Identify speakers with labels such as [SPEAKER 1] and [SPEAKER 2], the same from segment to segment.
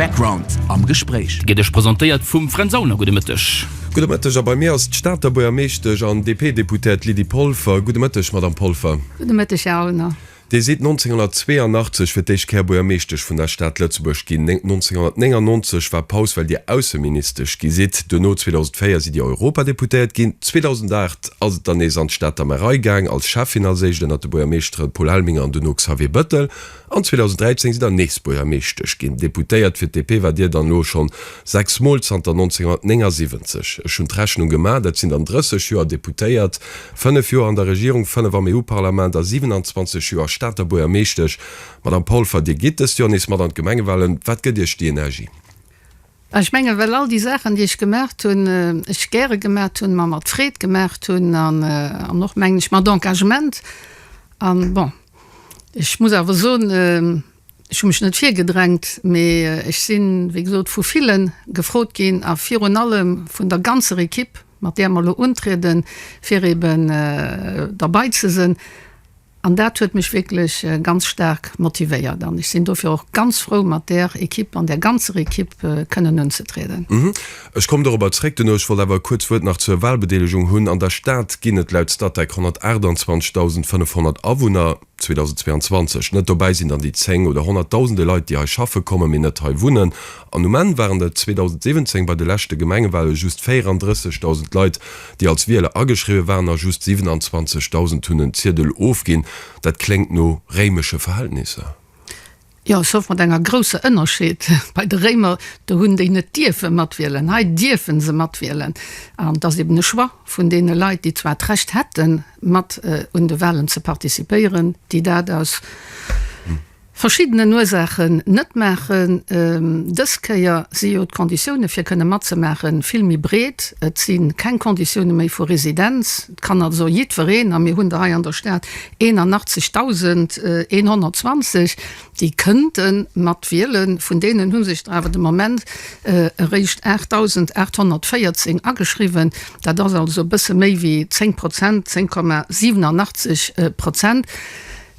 [SPEAKER 1] Background am Gespréich. Gitt Iech presentéiert vum
[SPEAKER 2] Fränz Auner. Gudde Mëtteg. Gudde Mëtteg. A bei mir
[SPEAKER 3] ass d'Stater Buergermeeschtesch an DP-Deputert Lydie Polfer. Gudde Mëtteg, Madamm Polfer. Gudde Mëtteg, Här Auner.
[SPEAKER 4] Dir sidd
[SPEAKER 3] 1982 fir d'éischt Kéier Buergermeeschtesch vun der Stad Lëtzebuerg ginn. 1999 war Paus, well Dir Ausseministesch gi sidd. Duerno, 2004, sidd Dir Europadeputéiert ginn. 2008 ass et dann nees an d'Stater Märei gaang, als Schäffin als éischt, ënnert de Buergermeeschtere Paul Helminger an duerno Xavier Bettel. An 2013 sidd der nees Buergermeeschtesch ginn. Deputéiert fir d'DP war Dir dann elo schonn 6 Mol zanter 1979. Ech hunn d'Rechnung gemaach, dat sinn dann 30 Joer Deputéiert, 5 Joer an der Regierung, 5 am EU-Parlament a 27 Joer Stater Buergermeeschtesch. Madame Polfer, Dir gitt dëst Joer nees mat an d'Gemengewahlen. Wat gëtt Iech déi Energie? Ech
[SPEAKER 4] mengen, well all déi Saachen, déi ech gemaacht hunn, ech gäre gemaacht hunn, mer mat Freed gemaacht hunn an och, mengen ech, mat Engagement. An bon, Ech muss awer soen, ech hu mech net virgedrängt, mee ech sinn, wéi gesot, vu ville gefrot ginn a virun allem vun der ganzer Ekipp, mat där mer elo untrieden, fir eben derbei ze sinn. An dat huet mech wierklech ganz staark motivéiert an ech sinn dofir och ganz frou, mat där Ekipp an där ganzer Ekipp kënnen unzetrieden. Ech komm dorobber
[SPEAKER 3] zréck duerno. Ech wollt awer e kuerz Wuert nach zur Wahlbedeelegung hunn. An der Stad ginn et laut Statec 128.500 Awunner 2022. Net dobäi sinn dann déi zéng oder honnertdausende Leit, déi hei schaffe kommen, mee net hei wunnen. An um Enn waren et 2017 bei de leschte Gemengewahle just 34.000 Leit, déi als Wieler ageschriwwe waren a just 27.000 hunn en Ziedel ofginn. Dat kléngt no réimesche Verhältnisser. Jo,
[SPEAKER 4] sauf mat enger grousser Ënnerscheed, bei de Réimer, do hunn déi net dierfe matwielen, hei dierfe se matwielen. An et ass eben e Choix vun deene Leit, déi zwar d'Recht hätten, mat un de Wahlen ze participéieren, déi dat aus verschiddenen Ursaachen net maachen. Dës Kéier si jo d'Konditioune fir kënne matzemaache vill méi breet, et si keng Konditioune méi vu Residenz, Et kann also jiddwereen, a mir hunn der hei an der Stad 81.120, déi kënnten mat wielen. Vun deenen hu sech der awer de Moment eréischt 8.814 ageschriwwen. Dat ass also e bësse méi wéi 10 Prozent, 10,87 Prozent.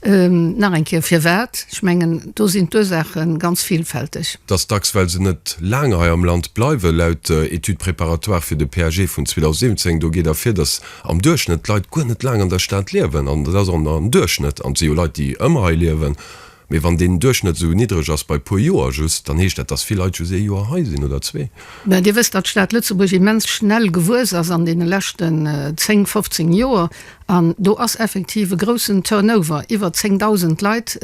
[SPEAKER 4] Nach eng Kéier, firwat? Ech mengen, do sinn d'Ursaache ganz villfälteg. Et ass dacks, well se
[SPEAKER 3] net laang hei am Land bleiwen. Laut der Étude préparatoire fir de PAG vun 2017, do geet ervir, datt am Duerchschnëtt d'Leit guer net laang an der Stad liewen. An dat ass och nach en Duerchschnëtt. An et si jo Leit, déi ëmmer hei liewen. Mee wann deen Duerchschnëtt esou niddreg ass, bei e puer Joer just, dann heescht dat, datt vill Leit just ee Joer hei sinn oder zwee. Mä Dir wësst, datt d'Stad
[SPEAKER 4] Lëtzebuerg immens schnell gewuess ass an deene leschten zéng, fofzéng Joer. An do ass effektiv e groussen Turnover, iwwer 10.000 Leit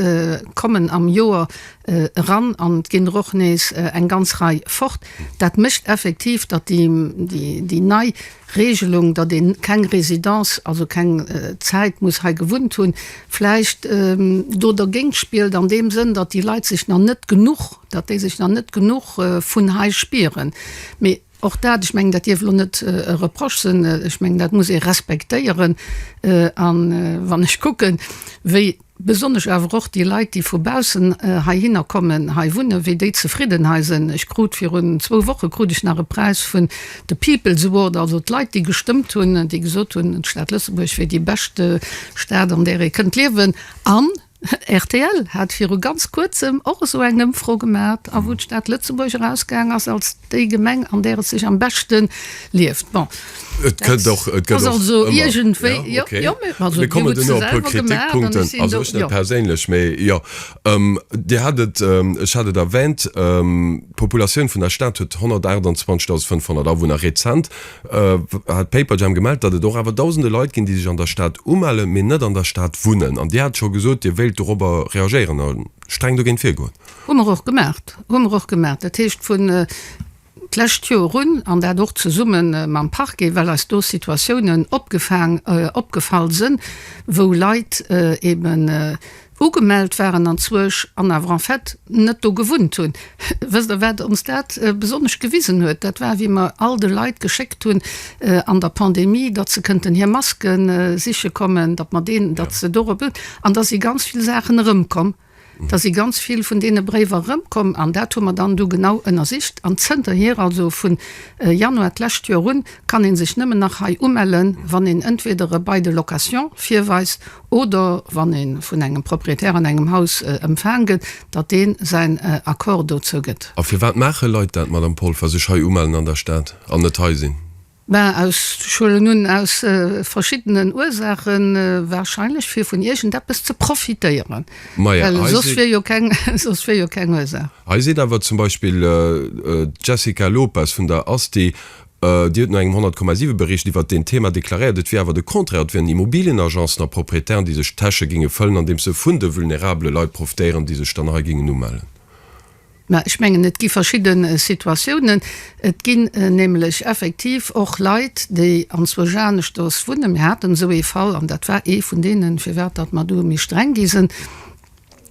[SPEAKER 4] kommen am Joer eran an et ginn der och nees eng ganz Rei fort. Dat mécht effektiv, datt déi nei Reegelung, datt ee keng Résidence, also keng Zäit muss hei gewunnt hunn, vläicht do dergéint spillt an deem Sënn, datt déi Leit sech nach net genuch, datt déi sech nach net genuch vun hei spieren. Mee. Och dat, ech mengen, dat dierf elo net e Reproche sinn. Ech mengen, dat muss ee respektéieren. A wann ech kucken, wéi besonnesch awer och déi Leit, déi vu baussen heihinner kommen, hei wunnen, wéi déi zefridden hei sinn. Ech krut virun zwou Woche krut ech nach e Präis vun de People's Award, also d'Leit, déi gestëmmt hunn, déi gesot hunn, d'Stad Lëtzebuerg wier déi bescht Stad, an där ee kënnt liewen. An Rtl hat viru ganz kuerzem och esou eng Ëmfro gemaat, a wou d'Stad Lëtzebuerg erausgaang ass als déi Gemeng an där et sech am beschte lieft. Bon, dat ass also iergendwéi, jo, jo, mee also Dir hutt se selwer
[SPEAKER 3] gemaat an ech sinn do, jo. Perséinlech, mee jo, Dir hat et, ech hat et erwänt, d'Populatioun vun der Stad huet 128.500 Awunner, rezent. hat Paperjam gemellt, datt et och awer dausende Leit ginn, déi sech an der Stad umellen, mee net an der Stad wunnen. An Dir hat scho gesot, Dir wéilt dorobber reagéieren a streng dogéint virgoen. Hu mer och gemaach.
[SPEAKER 4] Hu mer och gemaach. Dat heescht, vun d'lescht Joer un, an dat och zesumme mam Parquet, well eis do Situatiounen opgefaang, opgefall sinn, wou Leit eeben Ugemellt waren an Zouesch an awer en fait net do gewunnt hunn. Wësst Der, wat ons dat besonnesch gewisen huet? Dat war, wéi mer all de Leit geschéckt hunn an der Pandemie, datt se kënnten hir Maske siche kommen, datt mer deen, datt se dorop, an da si ganz vill Saachen erëmkomm. Da si ganz vill vun deene Bréiwer erëmkomm an dat hu mer dann du genau ënnersicht. An zënterhier, also vu Januar d'lescht Joer un, kann ee sech nëmmen nach hei umellen, wann een entweder e Bail de location virweist oder wann ee vun engem Propriétaire an engem Haus ëmfaang gëtt, datt dee säin Accord dozou gëtt. A firwat maache Leit
[SPEAKER 3] dat, Madame Polfer, sech hei umellen an der Stad an net hei sinn? Ben, aus,
[SPEAKER 4] ech huelen un, aus verschiddenen Ursaachen, wahrscheinlech fir vun iergendeppes ze profitéieren, well soss wier jo keng, soss
[SPEAKER 3] wier jo keng Ursaach. Hei seet awer zum Beispill d'Jessica Lopes vun der ASTI, Dir hutt no engem 100,7 Bericht iwwert deen Thema deklaréiert, et wier awer de Contraire, et wieren Immobilienagencen a Proprietären, déi sech d'Täsche géinge fëllen, andeems se vun de vulnerabele Leit profitéieren, déi sech dann hei géingen umellen. Mä
[SPEAKER 4] ech mengen, et gi verschidde Situatiounen. Et ginn nämlech effektiv och Leit, déi anzwousch aneschters wunnen. Mir haten esou ee Fall, an dat war ee vun deenen, firwat datt mer do méi streng gi sinn,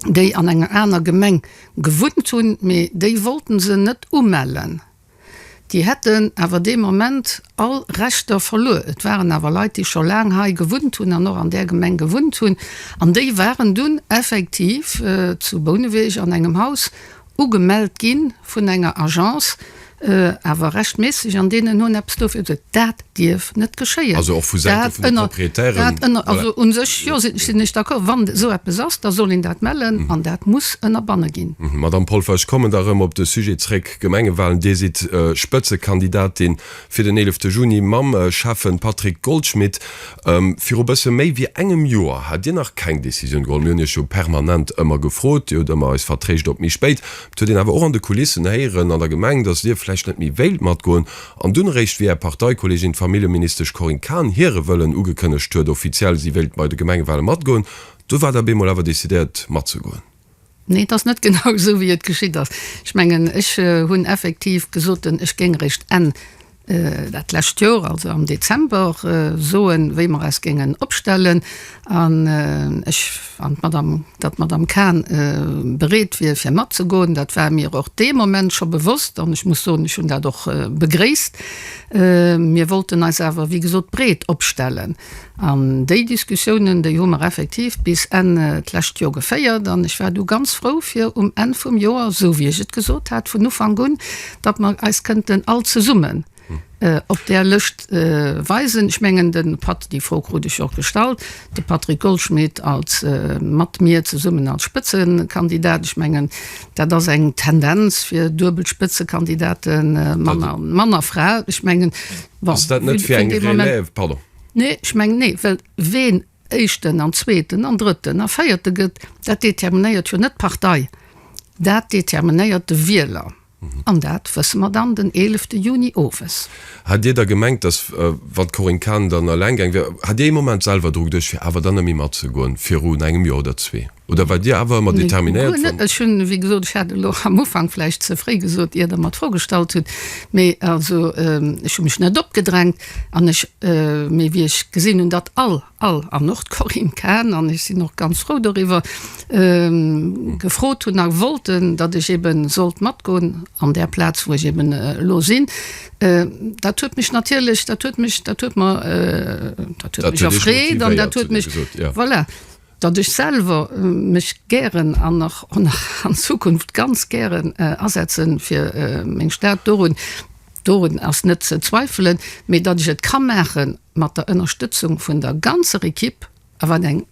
[SPEAKER 4] déi an enger aner Gemeng gewunnt hunn, mee déi wollte se net umellen. Déi hätten awer dee Moment all Rechter verluer. Et waren awer Leit, déi scho laang hei gewunnt hunn an och an där Gemeng gewunnt hunn, an déi waren dunn effektiv zu Bouneweg an engem Haus ugemellt gi vun enger Agence, awer rechtmässeg, an deenen hunn eppes dofir gesuergt. Dat. dierf net geschéien. Also och vu Säite vun
[SPEAKER 3] de Proprietären. Dat ënner, dat ënner, un
[SPEAKER 4] sech, jo, sinn ech d'accord. Wann esou eppes ass, da soll een dat mellen an dat muss ënnerbanne ginn. Madamm Polfer, ech kommen
[SPEAKER 3] da rëm op de Sujet zréck, Gemengewalen. Dir sidd Spëtzekandidatin fir den 11 Juni mam Schäffen Patrick Goldschmidt. Viru bësse méi wéi engem Joer hat Dir nach keng Decisioun geholl. Mir hunn Iech jo permanent ëmmer gefrot, Dir hutt ëmmer eis vertréischt op méi spéit. Et huet een awer och an de Kulissen héieren an der Gemeng, datt Dir vläicht net méi wéilt matgoen. An dunn eréischt, wéi Är Parteikollegin, d'Familljeministesch Corinne Cahen, hire Wëllen ugekënnegt huet, offiziell, si wéilt bei de Gemengewale matgoen, du war Der op eemol awer decidéiert, matzegoen. Nee, et ass net
[SPEAKER 4] genau esou, wéi et geschitt ass. Ech mengen, ech hunn effektiv gesoten, ech géing eréischt Enn dat lescht Joer, also am Dezember, soen, wéi mer eis géingen opstellen. An ech, an d'Madam, datt d'Madam Cahn bereet wier fir matzegoen, dat war mir och dee Moment scho bewosst. An ech muss soen, ech hunn dat och begréisst. Mir wollten eis awer, wéi gesot, breet opstellen. An déi Diskussiounen, déi hu mer effektiv bis Enn d'lescht Joer geféiert. An ech war du ganz frou fir um Enn vum Joer, esou wéi ech et gesot hat vun Ufank un, datt mer eis kënnten all zesummen, op där Lëscht weisen. Ech mengen de Pat déi Fro krut ech och gestallt, de Patrick Goldschmidt als mat mir zesummen als Spëtzekandidat. Ech mengen dat ass eng Tendenz fir duebel Spëtzekandidate Mann a Mann a Fra. Ech mengen bon, Ass dat net fir eng Relève? Pardon. Nee, ech mengen nee, well ween éischten an zweeten an drëtten a véierte gëtt, dat determinéiert jo net d'Partei, dat determinéiert de Wieler. An dat wësse mer dann den eelefte Juni owes. Hat Dir da gemengt,
[SPEAKER 3] datt, wann d'Corinne Cahen dann eleng gaang wier, hat Dir ee Moment selwer Drock duerch, fir awer dann ëmmer matzegoen, virun engem Joer oder zwee? Oder waart Dir awer ëmmer determinéiert, wann. Ech hunn, wéi gesot,
[SPEAKER 4] ech hat et och am Ufank vläicht ze fréi gesot, ier Der mer d'Fro gestallt hutt, mee also ech hu mech net opgedrängt, an ech, mee wéi ech gesinn hunn, datt all. all, an och d'Corinne Cahen, an ech sinn och ganz frou doriwwer, gefrot hunn a wollten, datt ech eben sollt matgoen an där Plaz, wou ech eben elo sinn. Dat huet mech natierlech, dat huet mech, dat huet mer, dat huet mech erfreet an dat huet mech, voilà, datt ech selwer mech gären an nach an Zukunft ganz gären asetze fir meng Stad dorun. Dorun ass net ze zweifelen, mee datt ech et ka maache mat der Ënnerstëtzung vun der ganzer Equipe, a wat eng,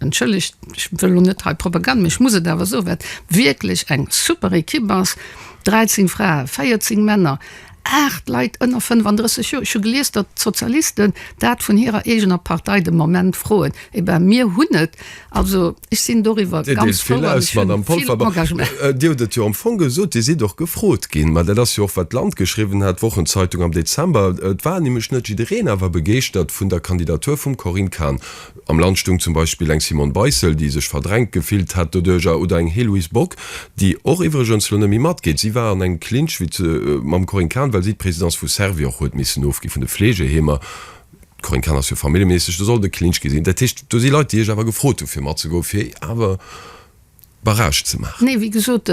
[SPEAKER 4] entschëllegt, ech wëll elo net hei Propagand, mee ech muss et awer soen, wat wierklech eng super Equipe ass, 13 Frae, 14 Männer, 8 Leit ënner 35 Joer. Ech hu gelies, datt d'Sozialisten dat vun hirer eegener Partei de Moment froen. Eh ben, mir hunn et Also ech sinn doriwwer ganz frou an ech hunn
[SPEAKER 3] vill Engagement. Dir hutt et jo am Fong gesot, Dir sidd och gefrot ginn. Mä dat ass jo och wat d'Land geschriwwen hat, d'Wochenzeitung am Dezember. Et war nämlech net jiddereen awer begeeschtert vun der Kandidatur vum Corinne Cahen. Am Land stoung zum Beispill eng Simone Beissel, déi sech verdrängt gefillt hat doduercher, oder eng Héloïse Bock, déi och iwwregens elo net méi matgeet. Si war an engem Clinch mam Corinne Cahen, well si d'Présidence vu Servior huet missen ofginn, vun de Fleegeheemer. D'Corinne Cahen ass jo familljeméisseg, do soll et e Klinsch gi sinn. Dat heescht, do si Leit, déi iech awer gefrot hu fir matzegoen, fir awer Barrage ze maachen. Nee, wéi gesot,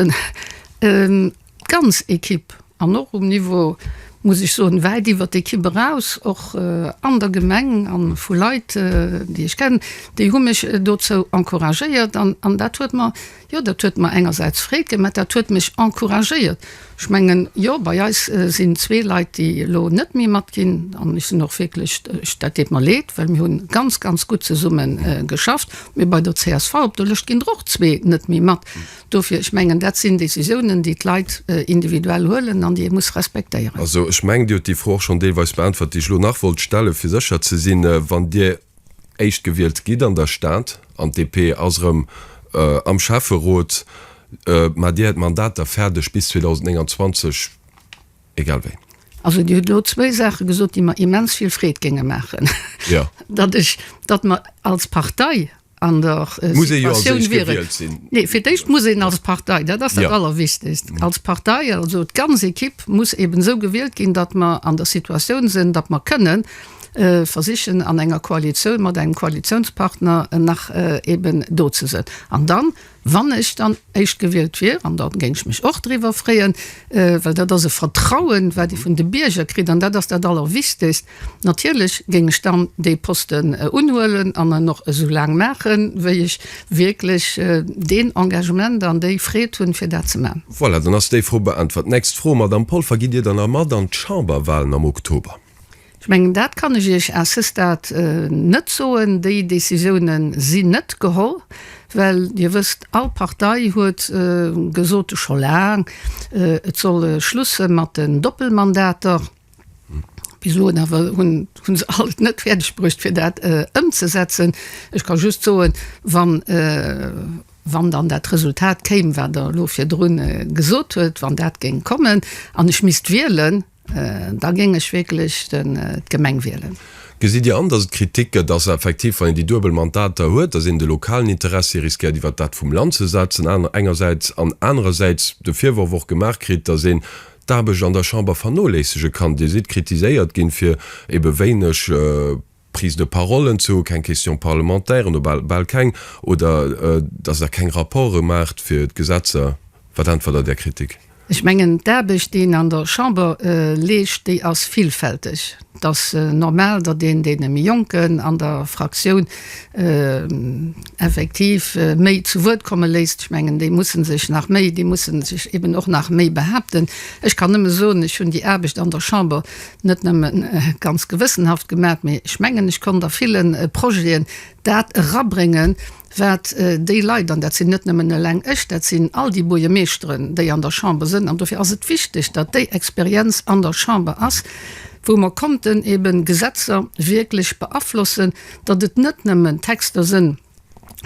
[SPEAKER 3] d'ganz
[SPEAKER 4] Ekipp an
[SPEAKER 3] och um
[SPEAKER 4] Niveau, muss ech soen, wäit iwwer d'Ekipp eraus, och an der Gemeng a vu Leit, déi ech kennen, déi hu mech dozou encouragéiert an dat huet mer, Jo, dat huet mer engersäits Freed ginn, mä dat huet mech encouragéiert. Ech mengen, jo, bei eis sinn zwee Leit, déi elo net méi matginn, an ech sinn och wierklech, dat deet mer leed, well mir hu ganz, ganz gutt zesumme geschafft, mä bei der csv op der Lëscht ginn der och zwee net méi mat. Dofir, ech mengen, dat sinn Décisiounen, déi d'Leit individuell huelen an déi ee muss respektéieren. Also, ech mengen, Dir hutt déi
[SPEAKER 3] Fro och schonn deelweis beäntwert, déi ech elo nach wollt stellen, fir sécher ze sinn, wann Dir Éischt gewielt gitt an der Stad an d'DP ass erëm am Schäfferot, ma Dir hätt Mandater fäerdeg bis 2029, egal wéi. Also Dir hutt elo
[SPEAKER 4] zwéi Saache gesot, déi mer immens vill Freed géinge maachen, datt
[SPEAKER 3] ech, datt
[SPEAKER 4] mer als Partei an der Situatioun wieren, nee, fir d'éischt muss een als Partei, dat ass dat Allerwichtegst, als Partei, also d'ganz Equipe muss eeben esou gewielt ginn, datt mer an der Situatioun sinn, datt mer kënnen, versichen an enger Koalitioun mat engem Koalitiounspartner nach eeben do ze sëtzen. An dann, wann ech dann éischt gewielt wier, an da géing ech mech och driwwer freeën, well dat ass e Vertrauen, wat ee vun de Bierger kritt, an dat ass dat Allerwichtigst, natierlech géing ech dann dee Posten unhuelen an en och esou laang maachen, wéi ech wierklech deen Engagement an déi Freed hunn, fir dat ze maachen. Voilà, dann ass déi Fro
[SPEAKER 3] beäntwert. Nächst Fro, Madamm Polfer, Gitt Dir dann erëm mat an d'Chamberwahlen am Oktober? Ech mengen, dat
[SPEAKER 4] kann ech Iech à ce stade net soen. Déi Décisioune sinn net geholl, well Dir wësst, all Partei huet gesot scho laang, et soll e Schluss sinn mat den Doppelmandater. Bis eloen awer hu se all et net fäerdeg bruecht, fir dat ëmzesetzen. Ech ka just soen, wann dann dat Resultat kéim, wat Der elo virdrun gesot huet, wann dat géing kommen an ech misst wielen, Da géing ech wierklech d'Gemeng wielen. Gesitt Dir an, datt et
[SPEAKER 3] Kritik gëtt, datt effektiv, wann een déi duebel Mandater huet, datt een de lokalen Interessi riskéiert iwwert dat vum Land ze setzen aner engersäits, an anerersäits de Virworf och gemaach kritt, datt een d'Aarbecht an der Chamber vernoléissege kann? Dir sidd kritiséiert ginn, fir ebe wéineg. Prise de parole entzoe, keng Questions parlementairen, oder bal keng, oder datt Der keng Rapporte maacht fir d'Gesetzer. Wat äntwert Der där Kritik? Ech mengen,
[SPEAKER 4] d'Aarbecht, déi een an der Chamber leescht, déi ass villfälteg. Et ass normal, datt een deene méi Jonken an der Fraktioun effektiv méi zu Wuert komme léisst. Ech mengen, déi musse sech nach méi, déi musse sech eeben och nach méi behaapten. Ech kann nëmme soen, ech hunn déi Aarbecht an der Chamber net nëmmen ganz gewëssenhaft gemaat, mee ech mengen ech konnt a villen Projeten daat erabréngen waat déi Leit, an daat sin net nëmmen eleng ech, daat sin all déi Buergermeeschteren déi an der Chamber sen, an dofir ass et wichteg daat déi Experienz an der Chamber ass wou mer konnten eben Gesetzer wierklech beaflossen, datt et net nëmmen Texter sen,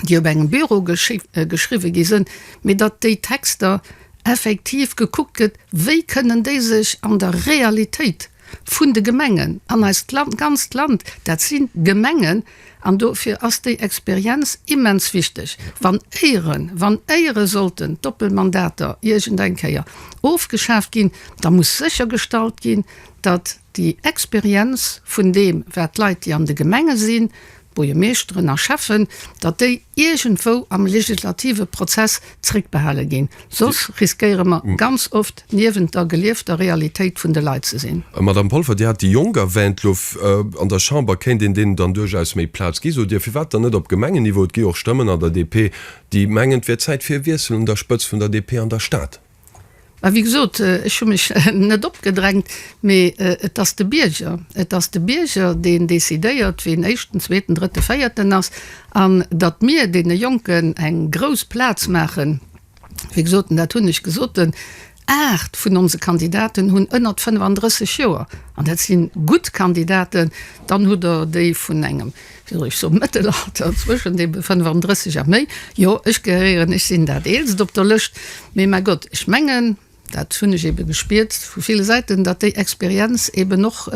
[SPEAKER 4] déi op engem Büro geschriwwe gi sinn, mee datt déi Texter effektiv gekuckt gëtt, wéi kënnen déi sech an der Realitéit vun de Gemengen an eist Land, ganzt Land, dat si Gemengen, an dofir ass déi Experienz immens wichteg, wann éiere, wann éiere sollten d'Doppelmandater iergendeng Kéier ofgeschaaft ginn, da muss séchergestallt ginn, datt déi Experienz vun deem, wat d'Leit, déi an de Gemenge sinn, Buergermeeschteren a Schäffen, datt déi iergendwou am legislative Prozess zréckbehale ginn, soss riskéiere mer ganz oft niewent der geliefter Realitéit vun de Leit ze sinn. Madame Polfer, Dir hat déi
[SPEAKER 3] Jonk erwähnt. Lo an der Chamber kéint een deenen dann duerchaus méi Plaz ginn. Sot Dir, firwat dann net op Gemengenniveau? Et gi och Stëmmen an der DP, déi mengen, et wär Zäit fir e Wiessel un der Spëtzt vun der DP an der Stad. Mä wéi gesot,
[SPEAKER 4] ech hu mech net opgedrängt, mee et ass de Bierger, et ass de Bierger, deen decidéiert, wien Éischten, Zweeten, Drëtten, Véierten ass. An datt mir deene Jonken eng grouss Plaz maachen, wéi gesot, an dat hunn ech gesot, den aacht vun onse Kandidaten hunn ënnert 35 Joer, an dat si gutt Kandidaten, dann hutt Der déi vun engem Wéi soll ech soen, Mëttelalter, zwëschen de 35 a méi. Jo, ech gehéieren, ech sinn dat Eelst op der Lëscht. Mee mäi Gott, ech mengen, dat hunn ech eebe gespiert vu ville Säiten, datt déi Experienz eeben och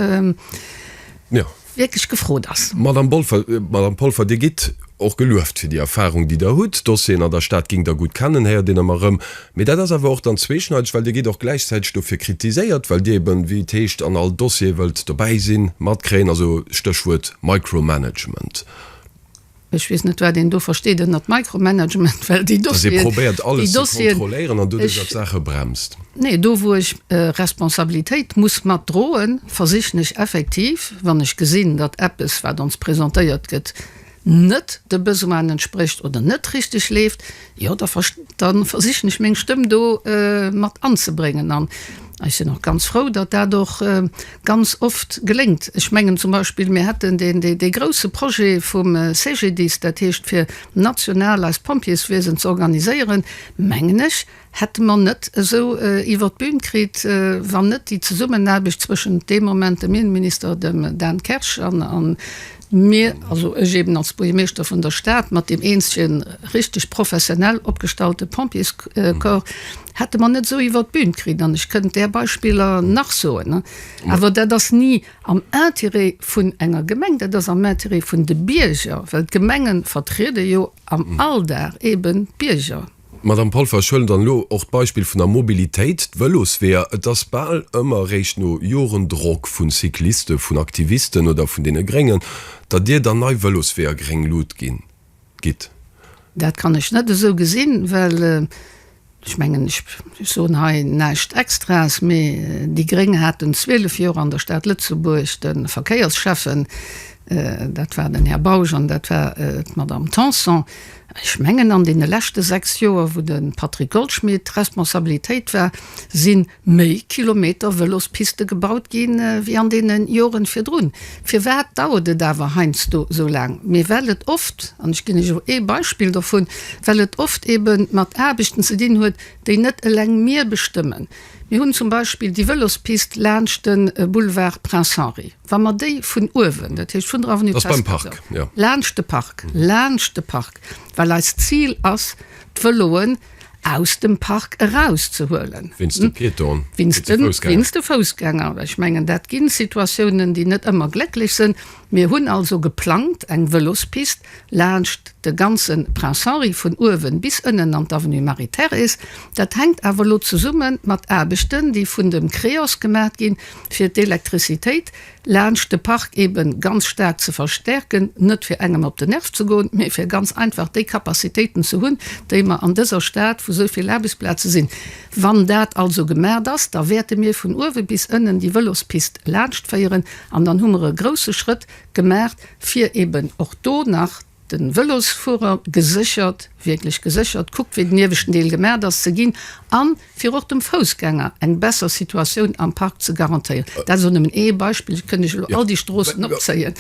[SPEAKER 4] wierklech gefrot ass. Madamm Polfer,
[SPEAKER 3] Madamm Polfer, Dir gitt och gelueft fir déi Erfarung, déi Der hutt. D'Dossieren an der Stad géingt Der gutt kennen, héiert een ëmmer erëm. Mee dat ass awer och dann zweeschneideg, well Dir gitt och gläichzäiteg dofir kritiséiert, well Dir eben, wéi et heescht, an all Dossier wëllt dobäi sinn, matkréien, also Stéchwuert Micromanagement. Ech
[SPEAKER 4] weess net, wat een do versteet ënnert Micromanagement, well déi Dossieren, déi Dossieren. Dass ee probéiert
[SPEAKER 3] alles ze kontrolléieren an
[SPEAKER 4] doduerch op
[SPEAKER 3] Saache bremst. Nee, do wou ech
[SPEAKER 4] Responsabilitéit muss matdroen, versichen ech effektiv, wann ech gesinn, datt eppes wat ons presentéiert gëtt, net de Besoinen entsprécht oder net richteg leeft, jo da ver da versichen ech meng Stëmm do mat anzebréngen. An ech sinn och ganz frou, datt dat och ganz oft geléngt. Ech mengen zum Beispill, mir hätten deen dee dee grouse Projet vum CGDIS, dat heescht fir national eist Pompjeeswiesen z'organiséieren, mengen ech, hätte mer net esou iwwert d'Bün kritt, wann net déi Zesummenaarbecht zwëschent deem Moment dem Innenminister, dem Dan Kersch, an mir, also ech eben als Buergermeeschter vun der Stad, mat deem eenzege richteg professionell opgestallte Pompjeescorps, hätte mer net esou iwwert d'Bün kritt. An ech kënnt där Beispiller nach soen. Awer dat ass ni am Intérêt vun enger Gemeng, dat ass am Intérêt vun de Bierger, well d'Gemengen vertriede jo am Alldag eben d'Bierger. Madamm Polfer, ech
[SPEAKER 3] huelen dann elo och d'Beispill vun der Mobilitéit, d'Vëlosweeër. Et ass bal ëmmer eréischt no Joren Drock vu Cyclisten, vun Aktivisten oder vun deene Gréngen, datt Dir dann nei Vëlosweeër gréng Lut ginn, gitt. Dat kann
[SPEAKER 4] ech net esou gesinn, well ech mengen, ech soen hei näischt Extraes, mee déi gréng haten 12 Joer an der Stad Lëtzebuerg de Verkéiersschäffen, dat war den Här Bausch an dat war d'Madamm Tanson. Ech mengen, an deene leschte sechs Joer, wou de Patrick Goldschmidt d'Responsabilitéit war, si méi Kilometer Vëlospiste gebaut gi wéi an deene Joren virdrun. Firwat dauert et awer heiansdo esou laang? Mee well et oft, an ech ginn lech och ee Beispill dovun, well et oft ebe mat Aarbechten ze dinn huet, déi net eleng mir bestëmmen. Mir hunn zum Beispill déi Vëlospist laanscht de Boulevard Prince Henri. Wa mer déi vun uewen, dat heescht vun der Avenue Presbytère,
[SPEAKER 3] laanscht de Park,
[SPEAKER 4] laanscht de Park, well eist Zil ass, d'Vëloen aus dem Park erauszehuelen, wéinst de
[SPEAKER 3] Piétone, wéinst
[SPEAKER 4] de Foussgänger. Ech mengen, dat gi Situatiounen, déi net ëmmer glécklech sinn. Mir hunn also geplangt, eng Vëlospist laanscht de ganze Prince Henri, vun uewen bis ënnen an d'Avenue Marie-Thérèse. Dat hänkt awer elo zesumme mat Aarbechten, déi vun dem Creos gemaach ginn, fir d'Elektricitéit laanscht de Park eben ganz staark ze verstärken, net fir engem op den Nerv ze goen, mee fir ganz einfach déi Capacitéiten ze hunn, déi mer an dëser Stad, wou esou vill Aarbechtsplaze sinn. Wann dat also gemaacht ass, da wäerte mir vun uewe bis ënnen déi Vëlospist laanschtféieren an dann hu mer e grouse Schrëtt gemaacht, fir eben och do nach, Den Velosfuerer geséchert, wierklech geséchert, kuckt wéi den ieweschten Deel gemaacht ass ze ginn an fir och dem Foussgänger eng besser Situatioun am Park ze garantéieren. Dat ass elo nëmmen ee Beispill, ech kënnt iech elo all déi Stroossen opzéien.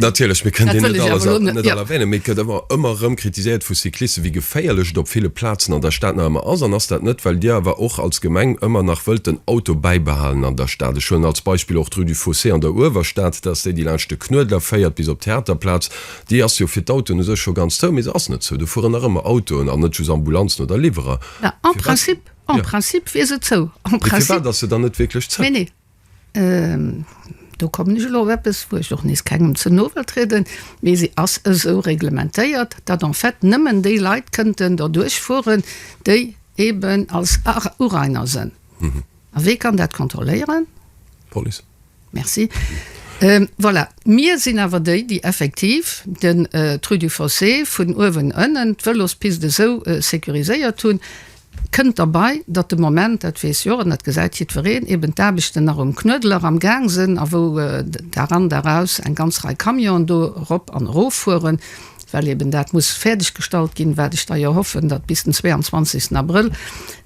[SPEAKER 4] Natierlech, mir
[SPEAKER 3] kënnen déi net all erwänen, mee et gëtt awer ëmmer erëm kritiséiert vu Cyclisten, wéi geféierlech et op ville Plazen an der Stad nach ëmmer ass. An ass dat net, well Dir awer och als Gemeng ëmmer nach wëllt den Auto bäibehalen an der Stad? Ech huelen als Beispill och d'Rue du Fossé an der Uewerstad, dat ass déi, déi laanscht de Knuedler féiert bis op d'Theaterplaz. Déi ass jo fir d'Autoen u sech scho ganz zou, mee se ass net zou. Do fueren nach ëmmer Autoen an net just Ambulanzen oder Liwwerer. Mä en principe,
[SPEAKER 4] en principe wier se zou. En principe. Mee firwat ass se dann net
[SPEAKER 3] wierklech zou? Nee, nee.
[SPEAKER 4] Do kommen ech elo op eppes, wou ech och nees kengem ze no wëll trieden, mee se ass esou reglementéiert, datt en fait nëmmen déi Leit kënnten derduerch fueren, déi eeben als Urainer sinn. A wee kann dat kontrolléieren? D'Police.
[SPEAKER 3] Merci.
[SPEAKER 4] Voilà, mir sinn awer déi, déi effektiv den Rue du Fossé vun uewen ënnen, d'Vëlospist esou sécuriséiert hunn. Kënnt derbei, datt de Moment, dat weess jo, an dat gesäit jiddwereen, eben d'Aarbechten nach um Knuedler amgaang sinn a wou d'A an d'A aus eng ganz Rei Camionen do erop an eroffueren. well eben dat muss fäerdeggestallt ginn, wat ech da jo hoffen, datt bis den 22. Abrëll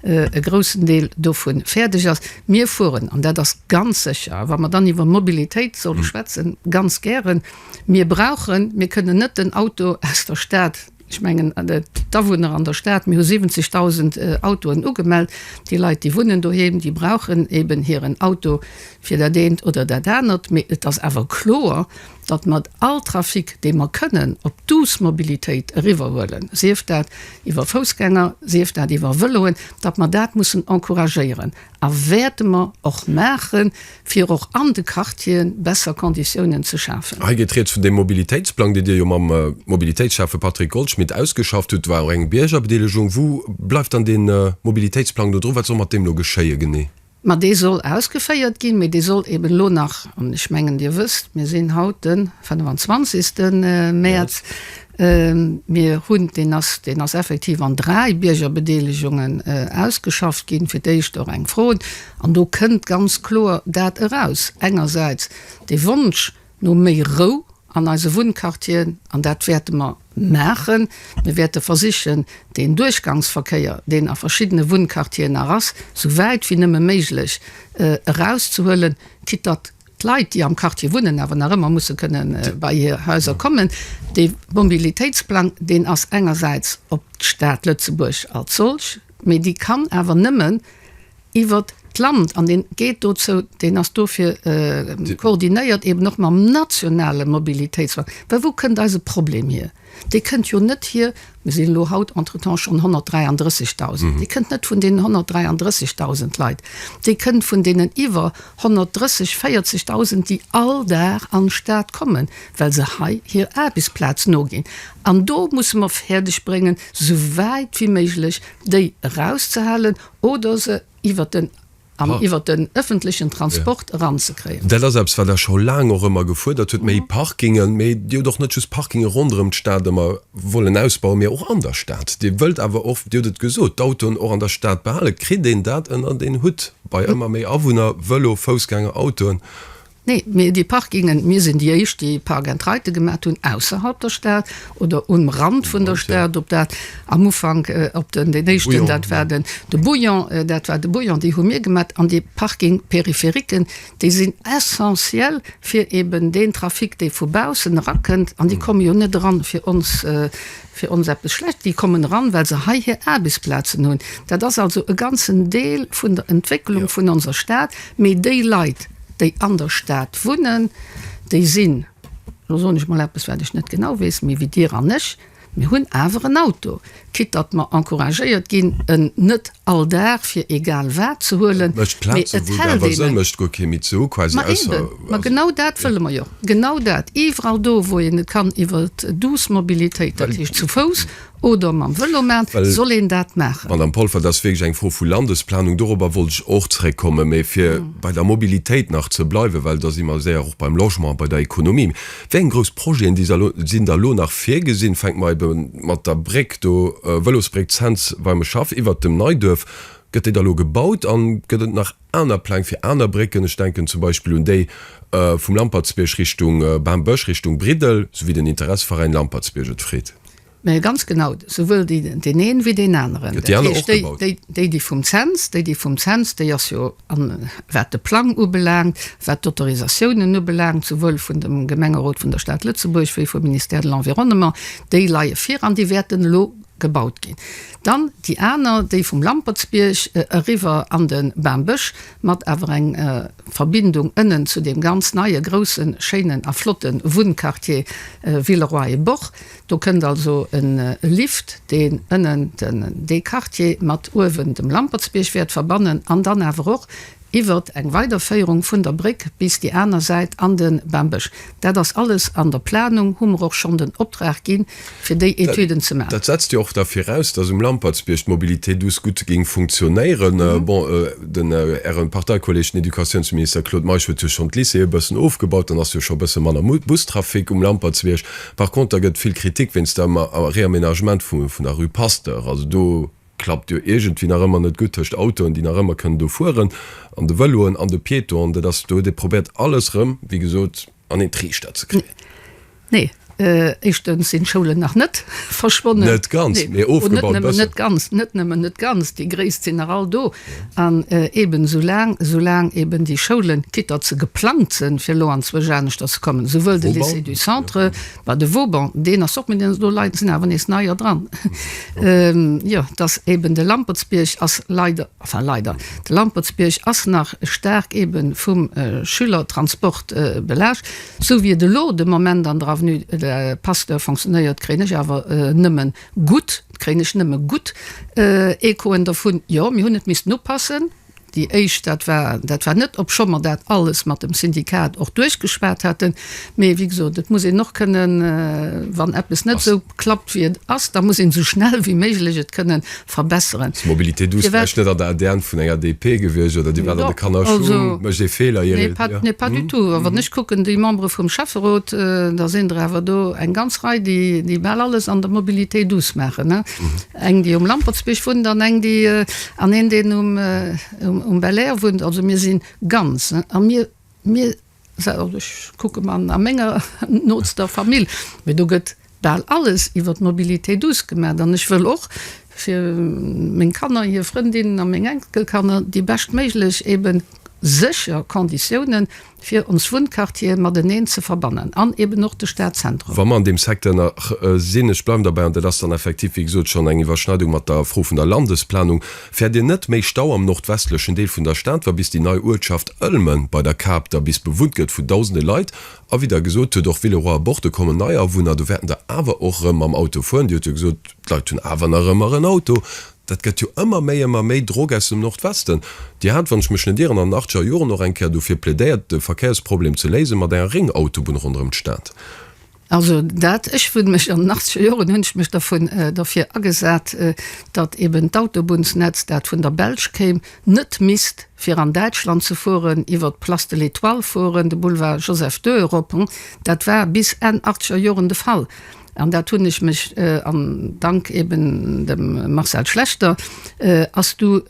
[SPEAKER 4] e groussen Deel dovu fäerdeg ass. Mir fueren, an dat ass ganz sécher, wa mer dann iwwer Mobilitéit solle schwätzen, ganz gären. Mir brauchen, mir kënnen net den Auto aus der Stad, ech mengen d'Awunner an der Stad, mir hu 70.000 Autoen ugemellt, déi Leit, déi wunnen doheem, déi brauchen eben hiren Auto fir dat eent oder dat anert. Mee et ass awer kloer, datt mat all Trafic, dee mer kënnen op d'Douce Mobilitéit eriwwerhuelen, sief dat iwwer Foussgänger, sief dat iwwer Vëloen, datt mer dat mussen encouragéieren a wäerte mer och maachen, fir och an de Quartieren besser Konditiounen ze schafen. Hei geet Rieds vun deem
[SPEAKER 3] Mobilitéitsplang, dee Dir jo mam Mobilitéitsschäffe Patrick Goldschmidt ausgeschafft hutt. Do war och eng Biergerbedeelegung. Wou bleift dann dee Mobilitéitsplang do dru? Wat soll mat deem elo geschéie genee? Mä dee soll
[SPEAKER 4] ausgeféiert ginn, mä dee soll eben elo nach, an ech mengen, Dir wësst, mir sinn haut de 25. Mäerz, mir hunn, deen ass, deen ass effektiv an dräi Biergerbedeelegungen ausgeschafft ginn, fir d'éischt och eng Frod, an do kënnt ganz kloer dat eraus, engersäits dee Wonsch, No méi Rou an eise Wunnquartieren, an dat wäerte mer maachen, mir wäerte versichen, deen Duerchgangsverkéier, deen a verschiddene Wunnquartieren nach ass, sou wäit wéi nëmme méiglech erauszehuelen, quitte datt d'Leit, déi am Quartier wunnen, awer nach ëmmer musse kënne bei hir Haiser kommen. Dee Mobilitéitsplang, deen ass engersäits op d'Stad Lëtzebuerg als solch, mee déi kann awer nëmmen, iwwert d'Land an deen geet dozou, deen ass dofir koordinéiert eben och mam nationale Mobilitéitsfong. Well wou kënnt eise Problem hier? Dee kënnt jo net hier, mir sinn elo haut entretemps schonn 133.000, dee kënnt net vun deenen 133.000 Leit, dee kënnt vun deenen iwwer 130, 40.000, déi all Dag an d'Stad kommen, well se hei hir Aarbechtsplaz noginn. An do musse mer fäerdegbréngen, esou wäit wéi méiglech déi erauszehalen, Oder se iwwert den, am, iwwert den ëffentlechen Transport eranzekréien. Dat ass eppes, wat Der scho
[SPEAKER 3] laang och ëmmer gefuerdert hutt, méi Parkingen. Mee Dir hutt och net just Parkinge ronderëm d'Stad ëmmer wollen ausbauen, mee och an der Stad. Dir wëllt awer och, Dir hutt et gesot, d'Autoen och an der Stad behalen. Kritt een dat ënnert een Hutt bei ëmmer méi Awunner, Vëlo, Foussgänger, Autoen? Nee, mee déi
[SPEAKER 4] Parkingen, mir sinn déi éischt déi Park and Ride gemaat hunn ausserhalb der Stad oder um Rand vun der Stad, op dat am Ufank op den deen éischten dat war den de Bouillon, dat war de Bouillon déi hu mir gemaat an déi Parking périphériques déi sinn essentiel fir eben deen Trafic dee vu baussen erakënnt an déi komme jo net eran fir ons fir ons eppes schlecht, déi kommen eran, well se hei hir Aarbechtsplazen hunn, dat ass also e ganzen Deel vun der Entwécklung vun onser Stad, mee déi Leit, déi an der Stad wunnen, déi sinn, lo soen ech mol eppes, wat ech net genau weess, méi wéi Dir an ech, mir hunn awer en Auto, quitte datt mer encouragéiert ginn, en net all Dag fir egal wat ze huelen, mee et hält een en. Ma eben! Ma genau dat wëlle mer jo, genau dat, iwwerall do, wou een et kann iwwer d'douce mobilitéit, dat heescht zu Fouss oder mam Vëlo maachen, soll een dat maachen. Madamm Polfer, dat ass wierklech
[SPEAKER 3] eng Fro vu Landesplanung. Dorobber wollt ech och zréckkommen. Mee fir bei der Mobilitéit nach ze bleiwen, well da si mer séier och beim Logement a bei der Ekonomie. Wéi eng grouss Projeten, déi se, sinn da elo nach virgesinn? Fänke mer ebe mat der Bréck do, Vëlosbréck Cents beim Schaff iwwert dem Neiduerf. Gëtt déi da elo gebaut an gëtt et nach? aner Pläng fir aner Brécken, ech denken zum Beispill un déi vum Lampertsbierg Richtung Bammbësch, Richtung Briddel, sou wéi den Interesseveräin Lampertsbierg et freet. Mä ganz genau,
[SPEAKER 4] souwuel deen een ewéi deen aneren. Dat heescht, déi, déi, déi vum Cents, déi, déi vum Cents, déi ass jo, an wat de Plang ubelaangt, wat d'Autorisatiounen ubelaangt, souwuel vun dem Gemengerot vun der Stad Lëtzebuerg wéi vum Ministère de l'Environnement, déi leie vir an déi wäerten elo Gebaut ginn. Dann déi aner, déi vum Lampertsbierg eriwwer an de Bambësch, mat awer eng Verbindung ënnen zu deem ganz neie groussen, schéinen a flotte Wunnquartier Villeroy-et-Boch. Do kënnt also e Lift, deen ënnen dee Quartier mat uewen dem Lampertsbierg wäert verbannen an dann awer och, iwwert eng Weiderféierung vun der Bréck bis déi aner Säit an de Bembësch. Dat ass alles an der Planung, hu mer och schonn den Optrag gi fir déi Etüden ze maachen. Dat setzt jo och da
[SPEAKER 3] viraus, datt um Lampertsbierg d'Mobilité douce gutt géing funktionéieren. Bon, den Äre Parteikolleeg, den Educatiounsminister Claude Meisch huet jo schonn d'Lycéeë bëssen ofgebaut, dann ass jo scho bësse manner Bustrafic um Lampertsbierg. Par contre, da gëtt vill Kritik wéinst dem Réaménagement vun der Rue Pasteur. Also do. klappt jo iergendwéi nach ëmmer net gutt tëscht Autoen, déi nach ëmmer kënnen do fueren, an de Vëloen an de Piétonen. Dat ass, do huet ee probéiert alles rëm, wéi gesot, an een Triichter ze kréien. Nee,
[SPEAKER 4] éischtens sinn d'Schoulen nach net verschwonnen. Net ganz, mee
[SPEAKER 3] ofgebaut e bëssen. Net nëmmen net ganz, net nëmmen
[SPEAKER 4] net ganz, déi gréisst sinn nach all do. An eeben esou laang, esou laang eeben déi Schoulen, quitt datt se geplangt sënn, fir elo anzwousch aneschters ze kommen, souwuel de Lycée du Centre, Bah, de Vauban, deen ass och, mee deen ass elo leider, sinn awer nees neier dran. Jo, et ass eeben de Lampertsbierg ass leider, enfin leider, de Lampertsbierg ass nach staark eeben vum Schülertransport belaascht. Sou wéi et elo de Moment an der Avenue Pasteur fonctionnéiert, kréien ech awer nëmme gutt, kréien ech nëmme gutt Echoen dervun, jo, mir hunn et missten upassen. Déi éischt, dat war, dat war net, obscho mer dat alles mat dem Syndikat och duerchgeschwat haten, mee wéi gesot, et muss een och kënnen, wann eppes net esou klappt, wéi et ass, da muss een esou schnell wéi méiglech et kënne verbesseren. Mobilité douce, vläicht
[SPEAKER 3] net an der ADN vun enger DP gewiescht, oder Dir waart an de Kannerschuh, mécht ee Feeler, Ier et. Nee, nee, pas du tout.
[SPEAKER 4] A wann ech kucken, déi Membere vum Schäfferot, da sinn der awer do eng ganz Rei, déi, déi bal alles an der Mobilité douce maachen. Eng, déi um Lampertsbierg wunnt an eng, déi, an een, deen um, um Belair wunnt. Also mir si ganz, ne? A mir, mir, also ech kucke mer a menger nootster Famill, mee do gëtt bal alles iwwer d'Mobilité douce gemaat. An ech wëll och fir meng Kanner, hir Frëndinnen a meng Enkelkanner déi beschtméiglech, eeben sécher Konditiounen, fir ons Wunnquartiere mateneen ze verbannen an eben och de Stadzentrum. Wa mer an deem Secteur nach
[SPEAKER 3] sinn, ech bleiwen derbäi, an dat ass dann effektiv, wéi gesot, schonn eng Iwwerschneidung mat der Fro vun der Landesplanung, fäert Dir net méi Stau am nordwestlechen Deel vun der Stad, wa bis déi nei Uertschaft Ëlmen bei der Kap da bis bewunnt gëtt vun dausende Leit? A wéi Der gesot hutt, och Villeroy a Borde kommen nei Awunner, do wäerten der awer och erëm mam Auto fueren. Dir hutt jo gesot, d'Leit hunn awer nach ëmmer en Auto. Dat gëtt jo ëmmer méi, ëmmer méi Drog aus dem Nordwesten. Dir hat, wann ech mech net ieren, an den achtzeger Joren och eng Kéier dofir plädéiert, de Verkéiersproblem ze léise mat enger Réngautobunn ronderëm d'Stad. Also
[SPEAKER 4] dat, ech hunn mech an den achtzeger Joren hunn ech mech dervun, derfir agesat, datt eben d'Autobunnsnetz, dat vun der Belsch kéim, net misst fir an Däitschland ze fueren, iwwert d'Place de l'Etoile fueren, de Boulevard Joseph-II erop. Dat war bis Enn achtzeger Joren de Fall. an dat hunn ech mech an Dank eben dem Marcel Schlechter, ass du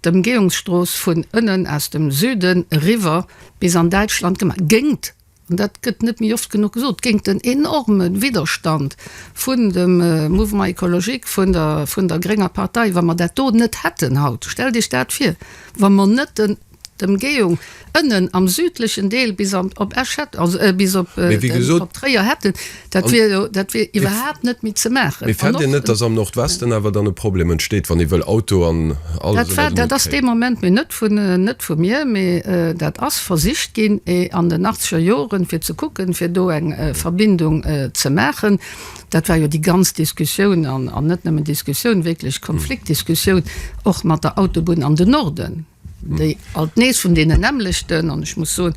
[SPEAKER 4] d'Ëmgehungsstrooss vun ënnen aus dem Süden eriwwer bis an Däitschland gemaach, géingt, an dat gëtt net méi oft genuch gesot, géingt den enorme Widderstand vun dem Mouvement écologique, vun der, vun der grénger Partei. Wa mer dat do net hätten haut, stellt Iech dat vir, wa mer net den. d'Ëmgehung ënnen am südlechen Deel bis an op Esch hätt, also euh, bis op Mee wéi gesot, op Tréier hätten, dat wier jo, dat wier iwwerhaapt net méi ze maachen. Mee An fennt Dir och net, dass am
[SPEAKER 3] Nordwesten awer dann e Problem entsteet, wann ee wëll Auto an alles Dat war, ënner dat den Hutt ass dee
[SPEAKER 4] kréien? Moment, mee net vun, net vu mir, mee euh, dat ass versicht ginn eh an den achtzeger Joren, fir ze kucken, fir do eng euh, Verbindung euh, ze maachen. Dat war jo déi ganz Diskussioun an, an net nëmmen Diskussioun, wierklech Konfliktdiskussioun och mat der Autobunn an den Norden. déi alt nees vun deenen nämmlechten, an ech muss soen,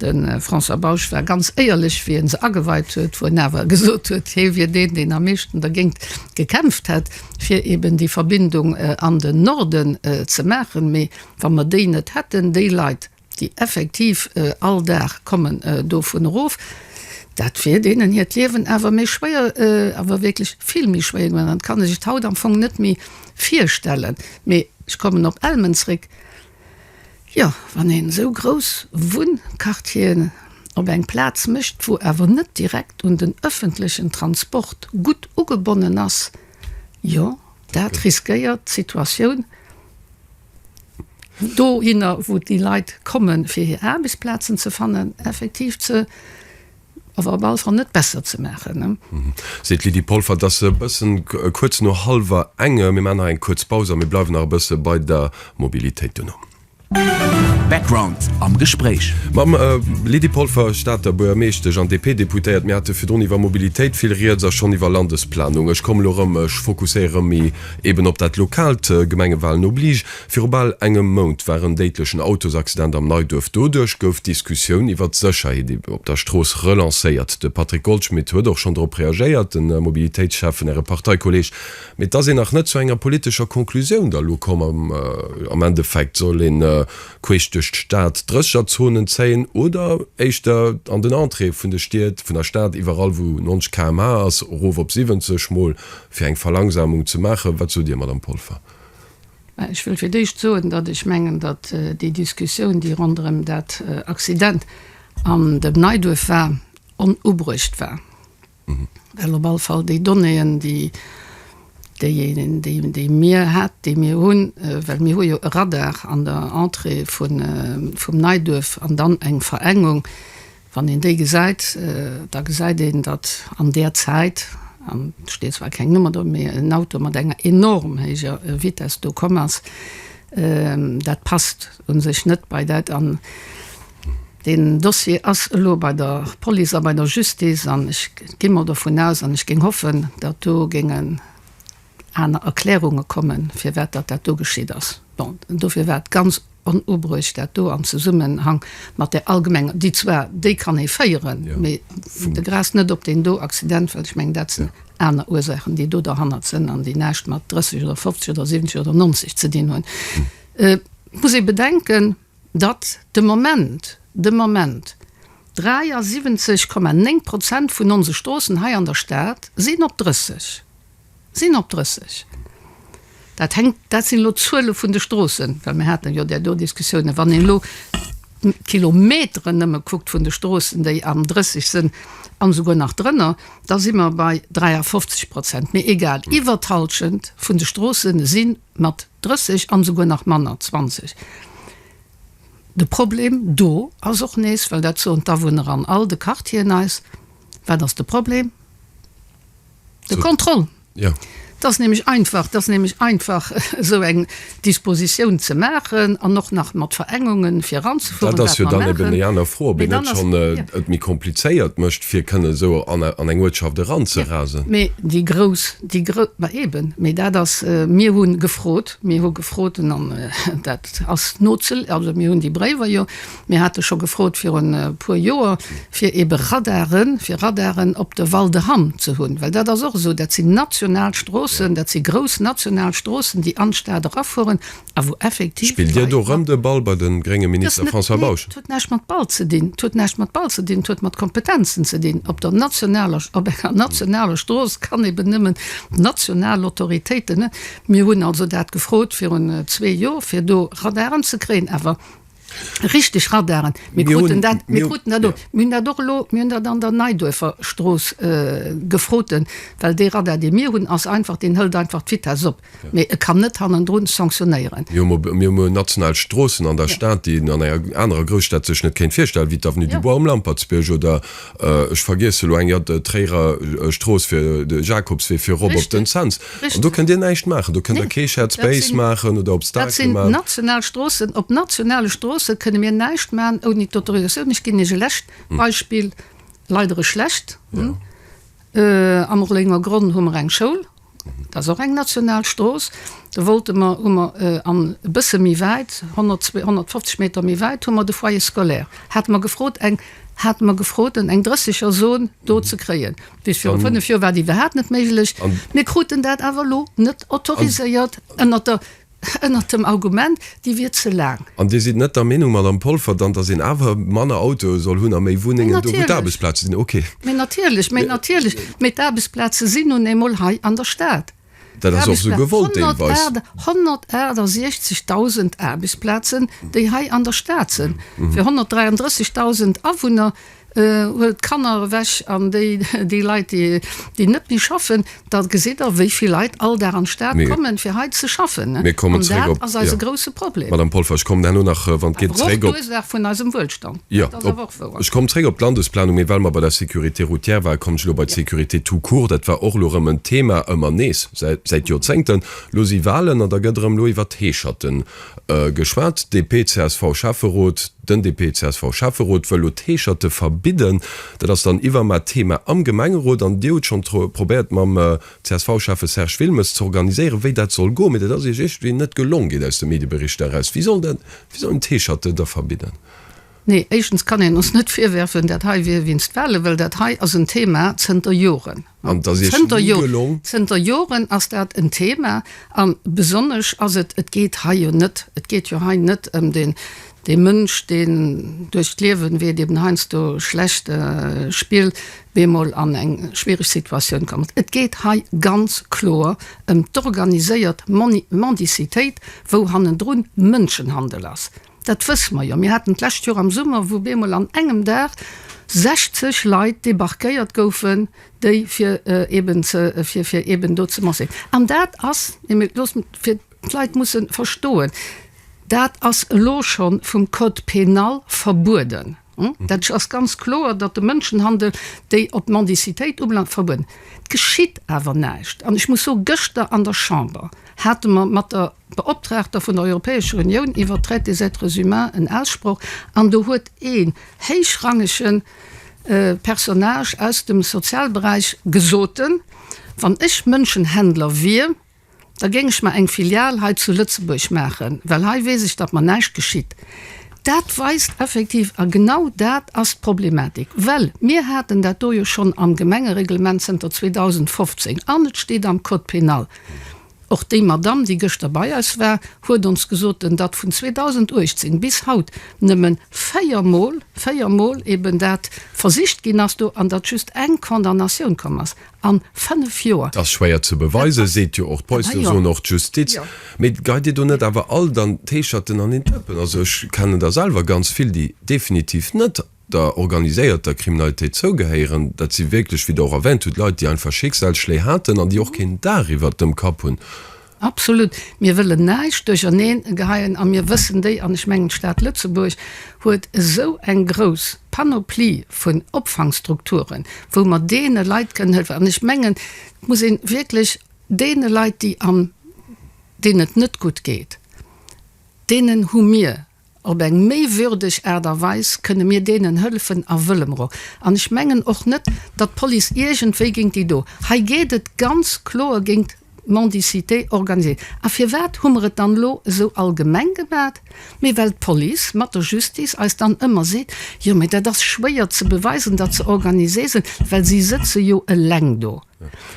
[SPEAKER 4] de François Bausch war ganz éierlech, wéi e se ageweit huet, wou en awer gesot huet, hie wier deen, deen am meeschten dergéint gekämpft hätt, fir eben déi Verbindung an den Norden ze maachen. Mee wa mer déi net hätten, déi Leit, déi effektiv all Dag kommen dovun erof, dat wier deenen hiert Liewen awer méi schwéier, awer wierklech vill méi schwéier goen. An et kann ee sech haut am Fong net méi Virstellen, mee ech kommen op Elmen zréck, jo, wann een esou grouss Wunnquartieren op eng Plaz mécht, wou awer net direkt un den ëffentlechen Transport gutt ugebonnen ass, jo, dat riskéiert d'Situatioun dohinner, wou déi Leit komme fir hir Aarbechtsplazen ze fannen, effektiv ze. ass op alle Fall net besser ze maachen. Seet d'Lydie
[SPEAKER 3] Polfer. Et ass e bëssen kuerz no hallwer enge, mir maachen nach eng kuerz Paus a mir bleiwen nach e bësse bei der Mobilitéit duerno.
[SPEAKER 1] Background am Gespréich. Mam
[SPEAKER 3] Lydie Polfer, Stater Buergermeeschtesch an DP-Deputéiert. Mir hate virdrun iwwer Mobilitéit vill Rieds a schonn iwwer Landesplanung. Ech kommen elo erëm, ech fokusséiere rëm méi eeben op dat Lokaalt, Gemengewalen oblige. Viru bal engem Mount war en déidlechen Autosaccident am Neiduerf. Doduerch gouf d'Diskussioun iwwert d'Sécherheet op der Strooss relancéiert. De Patrick Goldschmidt huet och schonn dorop reagéiert, de Mobilitéitsschäff vun Äre Parteikolleeg. Mee et ass een nach net zu enger politescher Conclusioun da lo komm. Am Endeffekt soll een queesch duerch d'Stad Drëscherzonen zéien oder éischter an den Entréeë vun de Stied, vun der Stad, iwwerall wou 90 km/h ass, erof op 70 mol, fir eng Verlangsamung ze maachen. Wat sot Dir, Madame Polfer? Ech
[SPEAKER 4] wëll fir d'éischt soen, datt ech mengen, datt déi Diskussioun, déi ronderëm dat Accident an dem Neiduerf war, onubruecht war, well op all Fall déi Donnéeën, déi, déijéinenen, déi, déi mir hat, déi mir hunn, well mir hu jo e Radar an der Entrée vun, vum Neiduerf an dann eng Verengung, Wann een déi gesäit, da gesäit een, datt an där Zäit, an et steet zwar keng Nummer do, mee en Auto mat enger enorm héijer Vitess do komm ass. Dat passt u sech net bei dat. An deen Dossier ass elo bei der Police a bei der Justice an ech gi mol dovun aus an ech géing hoffen, datt do géingen, aner Erklärunge kommen, firwat datt dat do geschitt ass. Bon, dofir war et ganz onubruecht, dat do am Zesummenhang mat där allgemenger, déi zwar, déi kann ee féieren, mä fung de Gras net op deen do Accident, well ech mengen, dat sinn aner Ursaachen, déi do derhannert sënn an déi näischt mat 30 oder 50 oder 70 oder 90 ze dinn hunn. Et muss ee bedenken, datt de Moment, de Moment 73,9 Prozent vun onse Stroossen hei an der Stad sinn op 30. Sinn op 30. Dat hänkt, dat sinn elo d'Zuele vun de Stroossen, well mir haten jo där do Diskussiounen. Wann een elo d'Kilometeren nëmme kuckt vun de Stroossen, déi am 30 sinn an esouguer nach drënner, da si mer bei 53 Prozent. Mee egal, iwwer d'Hallschent vun de Stroosse si mat 30 an esouguer nach manner, 20. De Problem do ass och nees, well dat soen d'Awunner an all de Quartieren eis, Wat ass de Problem? De Contrôle? Jo. Dat ass nämlech einfach, dat ass nämlech einfach esou eng Dispositioun ze maachen an och nach mat Verengunge viranzefueren, wat mer maachen. Dat ass jo dann eben déi aner Fro,
[SPEAKER 3] ob een net schonn et méi komplizéiert mécht, fir kënnen esou an eng Uertschaft eranzerasen. Mee déi grouss,
[SPEAKER 4] déi grouss, ma eben, mee dat ass, mir hu gefrot, mir hu gefrot an dat ass noze, also mir hunn déi Bréiwer jo Mir hate scho gefrot virun e puer Joer, fir ebe Radare fir Radaren op de Val de Hamm ze hunn, well dat ass och esou, dat sinn national Stroossen, dat si grouss national Stroossen, déi an d'Stad erafueren a wou effektiv. Spillt Dir do erëm de
[SPEAKER 3] Ball bei de grénge Minister François Bausch? Dat huet näischt mat Ball ze dinn. Dat huet näischt mat Ball ze dinn. Dat huet mat Kompetenzen ze dinn. Op der nationaler, op enger nationaler Strooss kann eben nëmmen d'national Autoritéiten. Mir hunn also dat gefrot virun zwee Joer, fir do Radaren ze kréien, awer Richteg, Radaren. Mir kruten dat, mir kruten dat och. Mir hunn dat och elo, mir hunn dat an der Neiduerfer Strooss gefroten, well dee Radar, dee mir hunn, ass einfach, deen hëlt einfach d'Vitess op, mee e kann net hannendrun sanctionnéieren. Mir hunn elo mol national Stroossen an der Stad, déi een an enger anerer Grousstad sech net kéint virstellen, wéi d'Avenue du Bois um Lampertsbierg oder Ech vergiesse lo eng, jo, d'Tréierer Strooss fir de Jakobswee virop op den Cents. An do kënnt Dir näischt maachen, do kënnt Der kee Shared Space maachen oder Obstaclen maachen. Dat sinn national
[SPEAKER 4] Stroossen. Op nationale Stroosse kënne mir näischt maachen ouni d'Autorisatioun. Ech ginn Iech e lescht Beispill, leider e schlecht, Am Rollénger Gronn hu mer eng Schoul, Dat ass och eng national Strooss. Do wollte mer, hu mer an e bësse méi wäit, 100, 250 Meter méi wäit, hu mer de Foyer scolaire, hate mer gefrot, eng, hate mer gefrot, en eng dréssiger Zone do ze kréien. Bis viru fënnef Joer war dat iwwerhaapt net méiglech. Mir kruten dat awer elo net autoriséiert ënnert der. Ënnert dem Argument, déi wier ze laang. An Dir sidd net der Meenung,
[SPEAKER 3] Madame Polfer, dann, datt een awer manner Autoe soll hunn a méi Wunnengen, do wou d'Aarbechtsplaze sinn? Okay. Mee natierlech, mee
[SPEAKER 4] natierlech. Mee d'Aarbechtsplaze sinn nun eemol hei an der Stad. Dat ass och esou
[SPEAKER 3] gewollt deelweis. 168.000
[SPEAKER 4] Aarbechtsplazen, déi hei an der Stad sinn, fir 133.000 Awunner. Huelt d'Kanner ewech an déi déi Leit déi net méi schaffen, da gesitt der wéi vill Leit all Dag an d'Stad kommen fir hei ze schaffen. An dat ass eise grousse Problem. Awer och d'Ursaach vun eisem Wuelstand, dat ass awer och wouer. Ech
[SPEAKER 3] kommen zréck op d'Landesplanung, mee well mer bei der Sécurité routière waren, kommen ech elo bei d'Sécurité tout court. Dat war och elo erëm en Thema, ëmmer nees, säit Joerzéngten. Elo si Wahlen an da gëtt erëm elo iwwert d'Heescherten Geschwat, DP-CSV-Schäfferot, Den DP-CSV-Schäfferot wëll elo d'Heescherte verbidden. Dat ass dann iwwer mat Thema am Gemengerot an Dir hutt schonn probéiert mam CSV-Schäffe Serge Wilmes ze organiséieren, wéi dat soll goen, mee dat ass Iech iergendwéi net gelong, geet aus de Medieberichter eraus. Wie soll dat, wie soll een d'Heescherte da verbidden? Nee,
[SPEAKER 4] éischtens kann een ons net virwäerfen, dat hei wier wéinst Wale, well dat hei ass en Thema zënter Joren. Zënter Joren ass dat en Thema an besonnesch ass et, et geet hei jo net, et geet jo hei net ëm dee Mënsch, deen duerch d'Liewen, wéi et eben heiansdo schlecht spillt, bemol an eng schwiereg Situatioun komm ass. Et geet hei ganz kloer ëm d'organiséiert Mendicitéit, wou hannendrun Mënschenhandel ass. Dat wësse mer jo. Mir haten d'lescht Joer am Summer, wou op eemol an engem Dag 60 Leit debarquéiert goufen, déi fir eeben ze, fir, fir eeben do ze marschieren. An dat ass, et mir, loosst mech, fir d'Leit mussen verstoen, dat ass elo schonn vum Code pénal verbueden. Dat ass ganz kloer, datt de Mënschenhandel déi op d'Mendicitéit ubelaangt, verbueden. Et geschitt awer näischt. An ech muss soen, gëschter an der Chamber hate mer mat der Beoptraagter vun der Europäescher Unioun iwwert d'Traite des êtres humains en Aussproch, an do huet ee héichrangege Personnage aus dem Sozialberäich gesot, wann ech Mënschenhändler wier, Da géing ech mer eng Filial hei zu Lëtzebuerg maachen, well hei weess ech, datt mer näischt geschitt. Dat weist effektiv, a genau dat ass d'Problematik, well mir haten dat do jo schonn am Gemengereglement zënter 2015 an et steet am Code pénal, och déi Madamm, déi gëschter bei eis war, huet ons gesot, datt vun 2018 bis haut nëmme véier Mol, véier Mol eben dat versicht ginn ass do an datt just eng Condamnatioun komm ass. an 5 Joer. Dass schwéier ze beweisen,
[SPEAKER 3] seet jo och d'Police, elo soen och d'Justiz. Mee geit Dir do net awer all dann d'Heescherten an een Dëppen? Also ech kennen der selwer ganz vill, déi definitiv net der organiséierter Kriminalitéit zougehéieren. Dat si wierklech, wéi Der och erwänt hutt, Leit, déi einfach Schicksalsschléi haten an déi och keen Daach iwwert dem Kapp hunn. Absolut.
[SPEAKER 4] Mir wëllen näischt duercherneen geheien a mir wëssen déi, an ech mengen d'Stad Lëtzebuerg huet esou eng grouss Panoplie vun Opfangstrukturen, wou mer deene Leit kënnen hëllefen. An ech mengen, et muss ee wierklech deene Leit, déi am, deenen et net gutt geet, deenen hu mir, Op eng méi würdeg Aart a Weis kënne mir deenen hëllefen a wëllemro. An ech mengen och net, datt d'Police iergendwéi géint déi do. Hei geet et ganz kloer géint d'Mendicité organisée. A firwat hu mer et dann elo esou allgemeng gemat? Mee well d'Police mat der Justice eis dann ëmmer seet, Jo, mee dat ass schwéier ze beweisen, datt se organisé sinn, well si sëtze jo eleng do.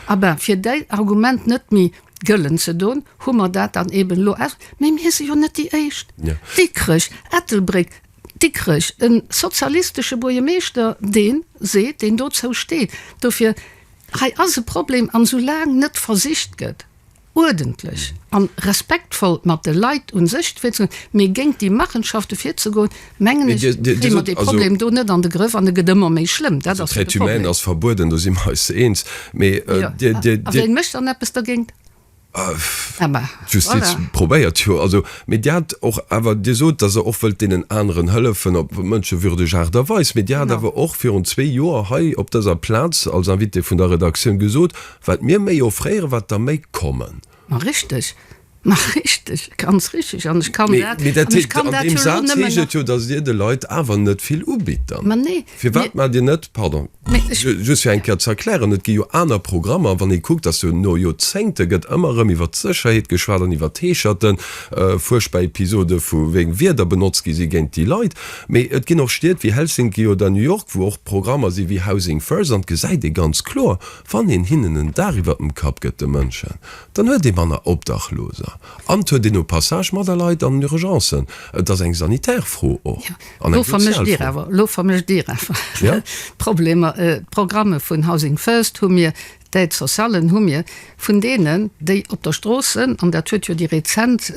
[SPEAKER 4] A ben, fir däi Argument net méi gëllen ze doen, hu mer dat dann eeben elo aus. Mee mir si jo net déi Éischt. Dikrech, Ettelbréck, Dikrech, e sozialistesche Buergermeeschter, dee seet, deen dozou steet. Dofir, hei ass e Problem. An soulaang net versicht gëtt, uerdentlech an respektvoll mat de Leit un sech virzegoen, mee géint déi Machenschaften virzegoen, mengen ech, kréie mer dee Problem do net an de Grëff an e gëtt ëmmer méi schlëmm. Dat ass jo
[SPEAKER 3] de Problem. A
[SPEAKER 4] wien mécht dann eppes dergéint? D'Justiz
[SPEAKER 3] probéiert jo. Mee Dir hat och awer, Dir sot, datt Der och wëllt deenen aneren hëllefen op mënschewürdeg Aart a Weis. Mee Dir hat awer och virun zwee Joer hei op dëser Plaz als Invitée vun der Redaktioun gesot, Wat mir méi offréieren, wat der méi kommen. Ma richteg,
[SPEAKER 4] ma richteg, ganz richteg. An ech kann dat, an ech kann dat jo elo nëmmen nach. Mee dat heescht, an deem Saz heescht et jo,
[SPEAKER 3] datt Dir de Leit awer net vill ubitt dann. Ma nee. Firwat maacht Dir net, pardon, just fir eng Kéier ze erklären, et gi jo aner Programmer, a wann ee kuckt, datt jo no Joerzéngte gëtt ëmmer erëm iwwert d'Sécherheet geschwat an iwwert d'Heescherten, fuerchtbar Episode vu wéi Wierder benotzt gi si géint déi Leit. Mee et ginn och Stied wéi Helsinki oder New York, wou och Programmer si wéi Housing First, an et gesäit ee ganz kloer, Wann een hinnen en Daach iwwer dem Kapp gëtt, de Mënschen, dann huet ee manner Obdachloser an et huet een au passage manner Leit an Urgencen. Et ass eng sanitär Fro och an eng sozial Fro. Elo vermëscht Dir awer
[SPEAKER 4] d'Problemer. D'Programme vun Housing First hu mir, d'Aides sociallen hu mir, vun deenen, déi op der Strooss sënn, an dat huet jo déi rezent.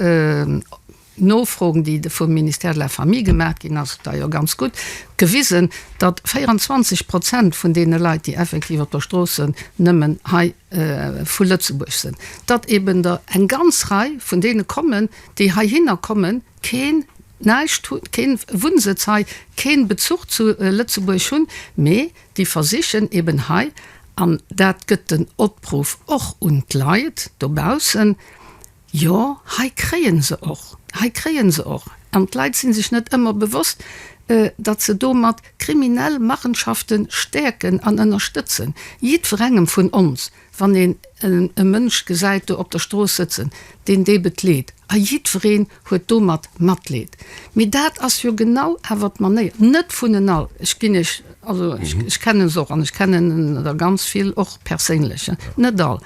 [SPEAKER 4] Nofroen, déi de vum Ministère de la Famille gemaach ginn, ass da jo ganz gutt gewisen, datt 24 Prozent vun deene Leit, déi effektiv op der Stroosse nëmmen hei vu Lëtzebuerg sinn, datt eben der eng ganz Rei vun deene kommen, déi heihinner kommen, keen, näischt hu, keen Wunnsëtz hei, keen Bezuch zu Lëtzebuerg hunn, mee déi versichen eben hei, an dat gëtt den Opruff och un d'Leit dobaussen, Jo, hei kréien se och, hei kréien se och, an d'Leit sinn sech net ëmmer bewosst, datt se domat kriminell Machenschaften stäerken an ënnerstëtzen. Jiddwerengem vun ons, wann een e Mënsch gesäit do op der Strooss sëtzen, deen deem et leed, a jiddwereen huet domat Matleed, mee dat ass jo genau awer d'Manéier, net vun en all, ech ginn Iech, also ech kennen se och, an ech kennen der ganz vill och perséinlech, net all,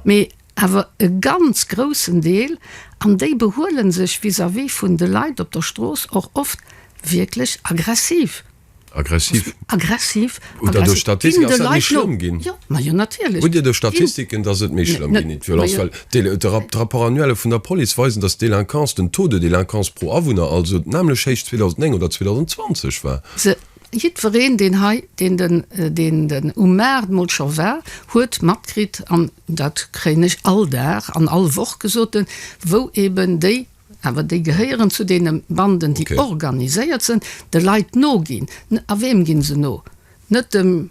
[SPEAKER 4] mee awer e ganz groussen Deel, an déi behuelen sech vis-à-vis vun de Leit op der Strooss och oft wierklech aggressiv. Aggressiv?
[SPEAKER 3] Aggressiv.
[SPEAKER 4] Hutt Der do Statistiken, dass
[SPEAKER 3] dat méi schlëmm ginn? Jo, majo, natierlech.
[SPEAKER 4] Hutt Dir do Statistiken,
[SPEAKER 3] dass et méi schlëmm ginn, déi Violence? Well d'Rapports annuelle vun der Police weisen, dass d'Delinquance, den Taux de délinquance pro Awunner also d'nämlech héich 2009 oder 2020 war. Jiddwereen,
[SPEAKER 4] deen hei, deen den, deen den um Maart mol scho war, huet matkritt, an dat kréien ech all Dag an all Woch gesot, wou eben déi, awer déi gehéieren zu deene Banden, déi organiséiert sinn, de Leit noginn. A wem gi se no? Net dem.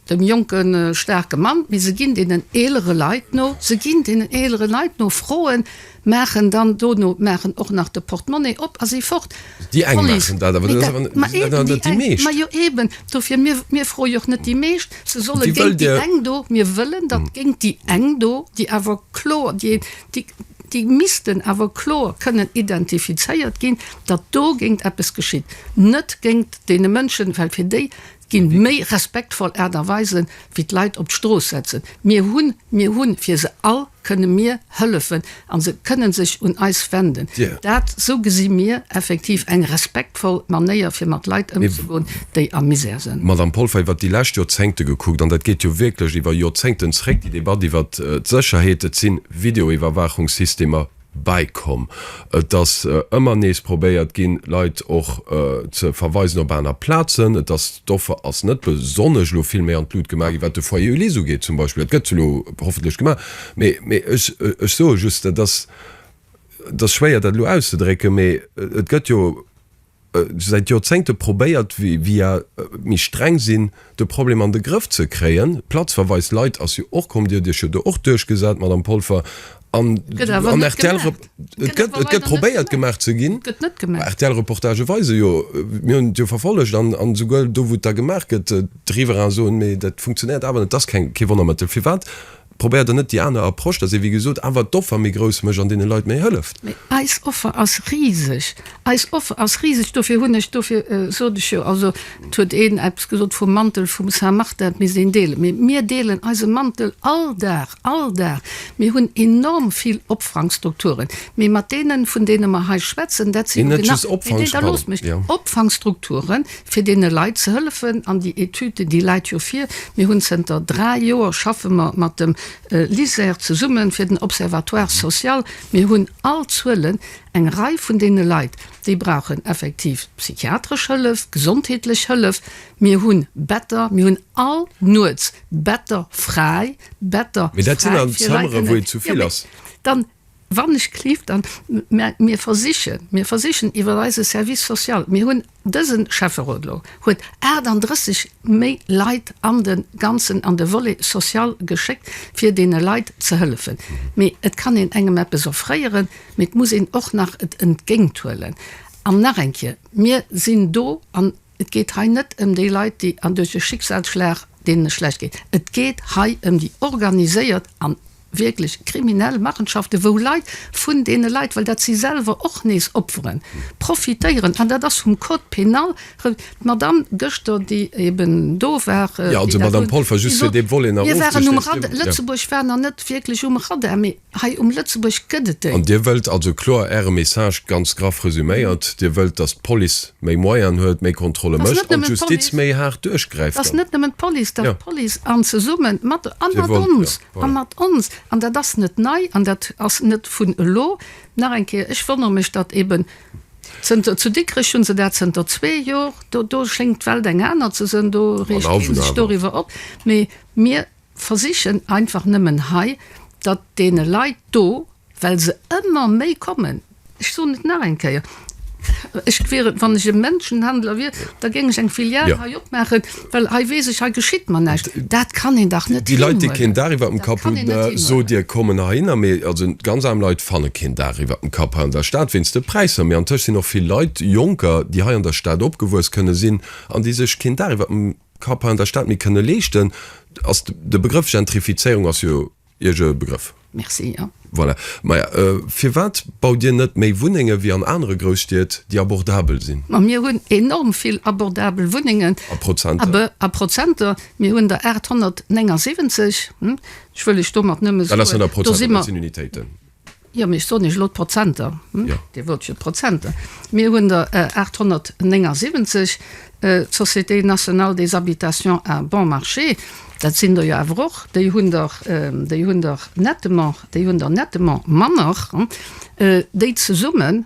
[SPEAKER 4] Dem jonke staarke Mann, mee se ginn deenen eelere Leit no, se ginn deenen eelere Leit no, Froen, maachen dann dono, maachen och nach de Portemonnaie op a si fort. Déi eng maachen
[SPEAKER 3] dat, awer dat ass awer, dat sinn awer net déi meescht. Ma jo eben, dofir,
[SPEAKER 4] mir, mir froe jo och net déi meescht, se solle géint déi eng do, mir wëllen, datt géint déi eng do, déi awer kloer, déi, déi, déi missten awer kloer kënnen identifizéiert ginn, datt dogéint eppes geschitt, net géint deene Mënschen, well fir déi Ginn méi respektvoll Aart a Weisen wéi d'Leit op d'Strooss setzen. Mir hunn, mir hunn fir se all kënne mir hëllefen an se kënnen sech un eis wenden. Dat, sou gesi mir effektiv eng respektvoll Manéier fir mat Leit ëmzegoen, déi a Misär sënn. Madamm Polfer, iwwert déi lescht
[SPEAKER 3] Joerzéngte gekuckt, an dat geet jo wierklech iwwer Joerzéngten zréck, déi Debatt iwwert d'Sécherheet, et si Videoiwwerwaachungssystemer, bäikomm. Et ass ëmmer nees probéiert ginn, Leit och ze verweisen op aner Plazen. Et ass, d'Offer ass net besonnesch elo vill méi an d'Lut gemaach ginn, wat de Foyer Ulysse ugeet zum Beispill. Dat gëtt elo hoffentlech gemaach. Mee, mee ech, ech soe just, dat ass, et ass schwéier, dat elo auszedrécken, mee et gëtt jo säit Joerzéngte probéiert via méi streng sinn de Problem an de Grëff ze kréien. D'Platzverweis lait ass jo och komm, Dir huet Iech jo do och duerchgesat, Madame Polfer, an rtl, et gëtt probéiert gemaach ze ginn, RTL-Reportagë weise jo, mir hunn et jo verfollegt, an esouguer do wou et da gemaach gëtt, d'Riverain soen, mee dat funktionéiert awer net, et ass kee Wonnermëttel. Firwat Probéiert der net déi aner Approche, dass ee wéi gesot awer d'Offer méi grouss mécht an deene Leit méi hëlleft? Mee eis Offer ass
[SPEAKER 4] riseg. Eis Offer ass riseg. Dofir hunn ech, dofir sot ech jo, also et huet een eppes gesot vum Mantel vum Saint Martin, et misst een deelen. Mee mir deelen eise Mantel all Dag, all Dag. Mir hunn enorm vill Opfrangstrukturen. Mee mat deenen, vun deene mer hei schwätzen, dat sinn, Opfangstrukturen. fir deene Leit ze hëllefen an déi Etüd, déi läit jo vir. Mir hunn zënter dräi Joer schaffe mer mat dem LISER zesummen fir den Observatoire social. Mir hunn all Zuelen. Eng Rei vun deene Leit, déi brauchen effektiv psychiatresch Hëllef, gesondheetlech Hëllef. Mir hu Better, mir hunn all Nuets Better fräi, Better fräi fir Leit kënnen,
[SPEAKER 3] jo, mee dann.
[SPEAKER 4] Wann ech cliff, dann, mä mir versichen, mir versichen iwwer eise Service social, mir hunn, dëse Schäfferot elo huet 38 méi Leit an de ganzen, an de Volet social geschéckt, fir deene Leit ze hëllefen. Mee et kann een engem eppes offréieren, mee et muss een och nach et entgéinthuelen. An nach eng Kéier, mir sinn do an Et geet hei net ëm déi Leit, déi an duerch e Schicksalsschlag, deenen et schlecht geet. Et geet hei ëm déi organiséiert an wierklech kriminell Machenschaften, wou Leit vun deene Leit, well dat si selwer och nees Opferen, profitéieren. An dat ass vum Code pénal re. D'Madamm gëschter, déi eben do war, déi dat
[SPEAKER 3] un, déi sot, Mir waren um Radar,
[SPEAKER 4] Lëtzebuerg war nach net wierklech um Radar, mee. Hei um Lëtzebuerg gëtt et déi. An Dir
[SPEAKER 3] wëllt also kloer, Äre Message ganz graff resuméiert, Dir wëllt, datt d'Police méi Moyen huet, méi Kontrolle mécht an d'Justiz méi haart duerchgräift an. Ass net nëmmen d'Police,
[SPEAKER 4] datt d'Police an zesumme mat an mat ons an mat ons an dat ass net nei an dat ass net vun elo. Nach eng Kéier, ech wonnere mech, datt eben zënter, zu Dikrech hu se dat zënter zwee Jor, do do schéngt d'Welt eng aner ze sënn, do reegt kee sech doriwwer op, mee mir, Versichen einfach nëmmen hei, datt deene Leit do, well se ëmmer méi kommen, ech soen et nach eng Kéier, ech wier et, wann ech e Menschenhandler wier, da géing ech eng Filial hei opmaachen, well hei weess ech, hei geschitt mer näischt. Dat kann een dach net hinhuelen! Déi Leit, déi keen Daach iwwert dem
[SPEAKER 3] Kapp hunn, sot Dir, kommen heihinner. Mee also ganz aarm Leit fanne keen Daach iwwert dem Kapp hei an der Stad, wéinst de Präisser. Mee antëscht sinn och vill Leit, Jonker, déi hei an der Stad opgewuess kënne sinn an déi sech keen Daach iwwert dem. Kappa an der Stad méi kënne leeschten. Ass de Begrëff Gentrifizéierung ass jo Iech e Begrëff? Merci,
[SPEAKER 4] jo. Voilà. Maja,
[SPEAKER 3] firwat baut Dir net méi Wunnenge wéi an anere Grousstied, déi abordabel sinn? Ma mir hunn enorm
[SPEAKER 4] vill abordabel Wunnengen. A Prozenter? A Prozenter, mir hunn der 879. Ech wëll lech domat nëmme soen, do si mer. Dat ass dann a Prozenter, dat sinn Unitéiten. Jo, mee ech soen Iech elo d'Prozenter, hm? Jo. Dir wollt jo d'Prozenter. Mir hunn der 879, d'Société nationale des habitations à bon marché, dat sinn der jo awer och, déi hunn der, déi hunn der nettement, déi hunn der nettement manner, hm, déi zesumme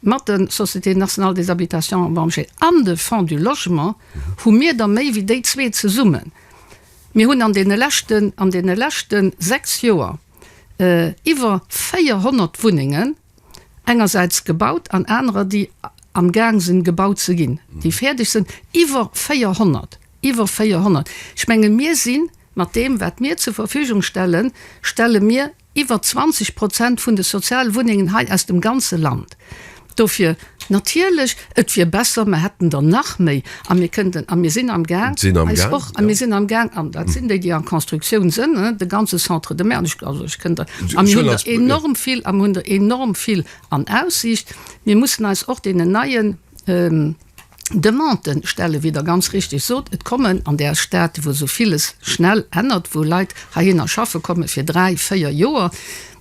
[SPEAKER 4] mat der Société nationale des habitations à bon marché an de Fonds du logement hu mir der méi wéi déi zwee zesummen. Mir hunn an deene leschten, an deene leschte sechs Joer, iwwer 400 Wunnengen engersäits gebaut an anerer, déi am Gaang sinn, gebaut ze ginn, déi fäerdeg sinn, iwwer 400, iwwer 400! Ech menge mir si mat deem, wat mir zur Verfügung stellen, stelle mir iwwer 20 Prozent vun de Sozialwunnengen hei aus dem ganze Land. Dofir, natierlech, et wier besser, mer hätten der nach méi a mir kënnten a mir sinn am Gaang eis och, a mir sinn am Gaang, an dat sinn déi, déi an Constructioun sënn, de ganze Centre de mer, also ech kënnt der, a mir hunn der enorm vill, a mer hunn der enorm vill an Aussiicht. Mir mussen eis och deenen neien Demanden stellen, wéi Der ganz richteg sot. Et kommen an där Stad, wou esou villes schnell ännert, wou Leit heihinner schaffe komme fir dräi, véier Joer,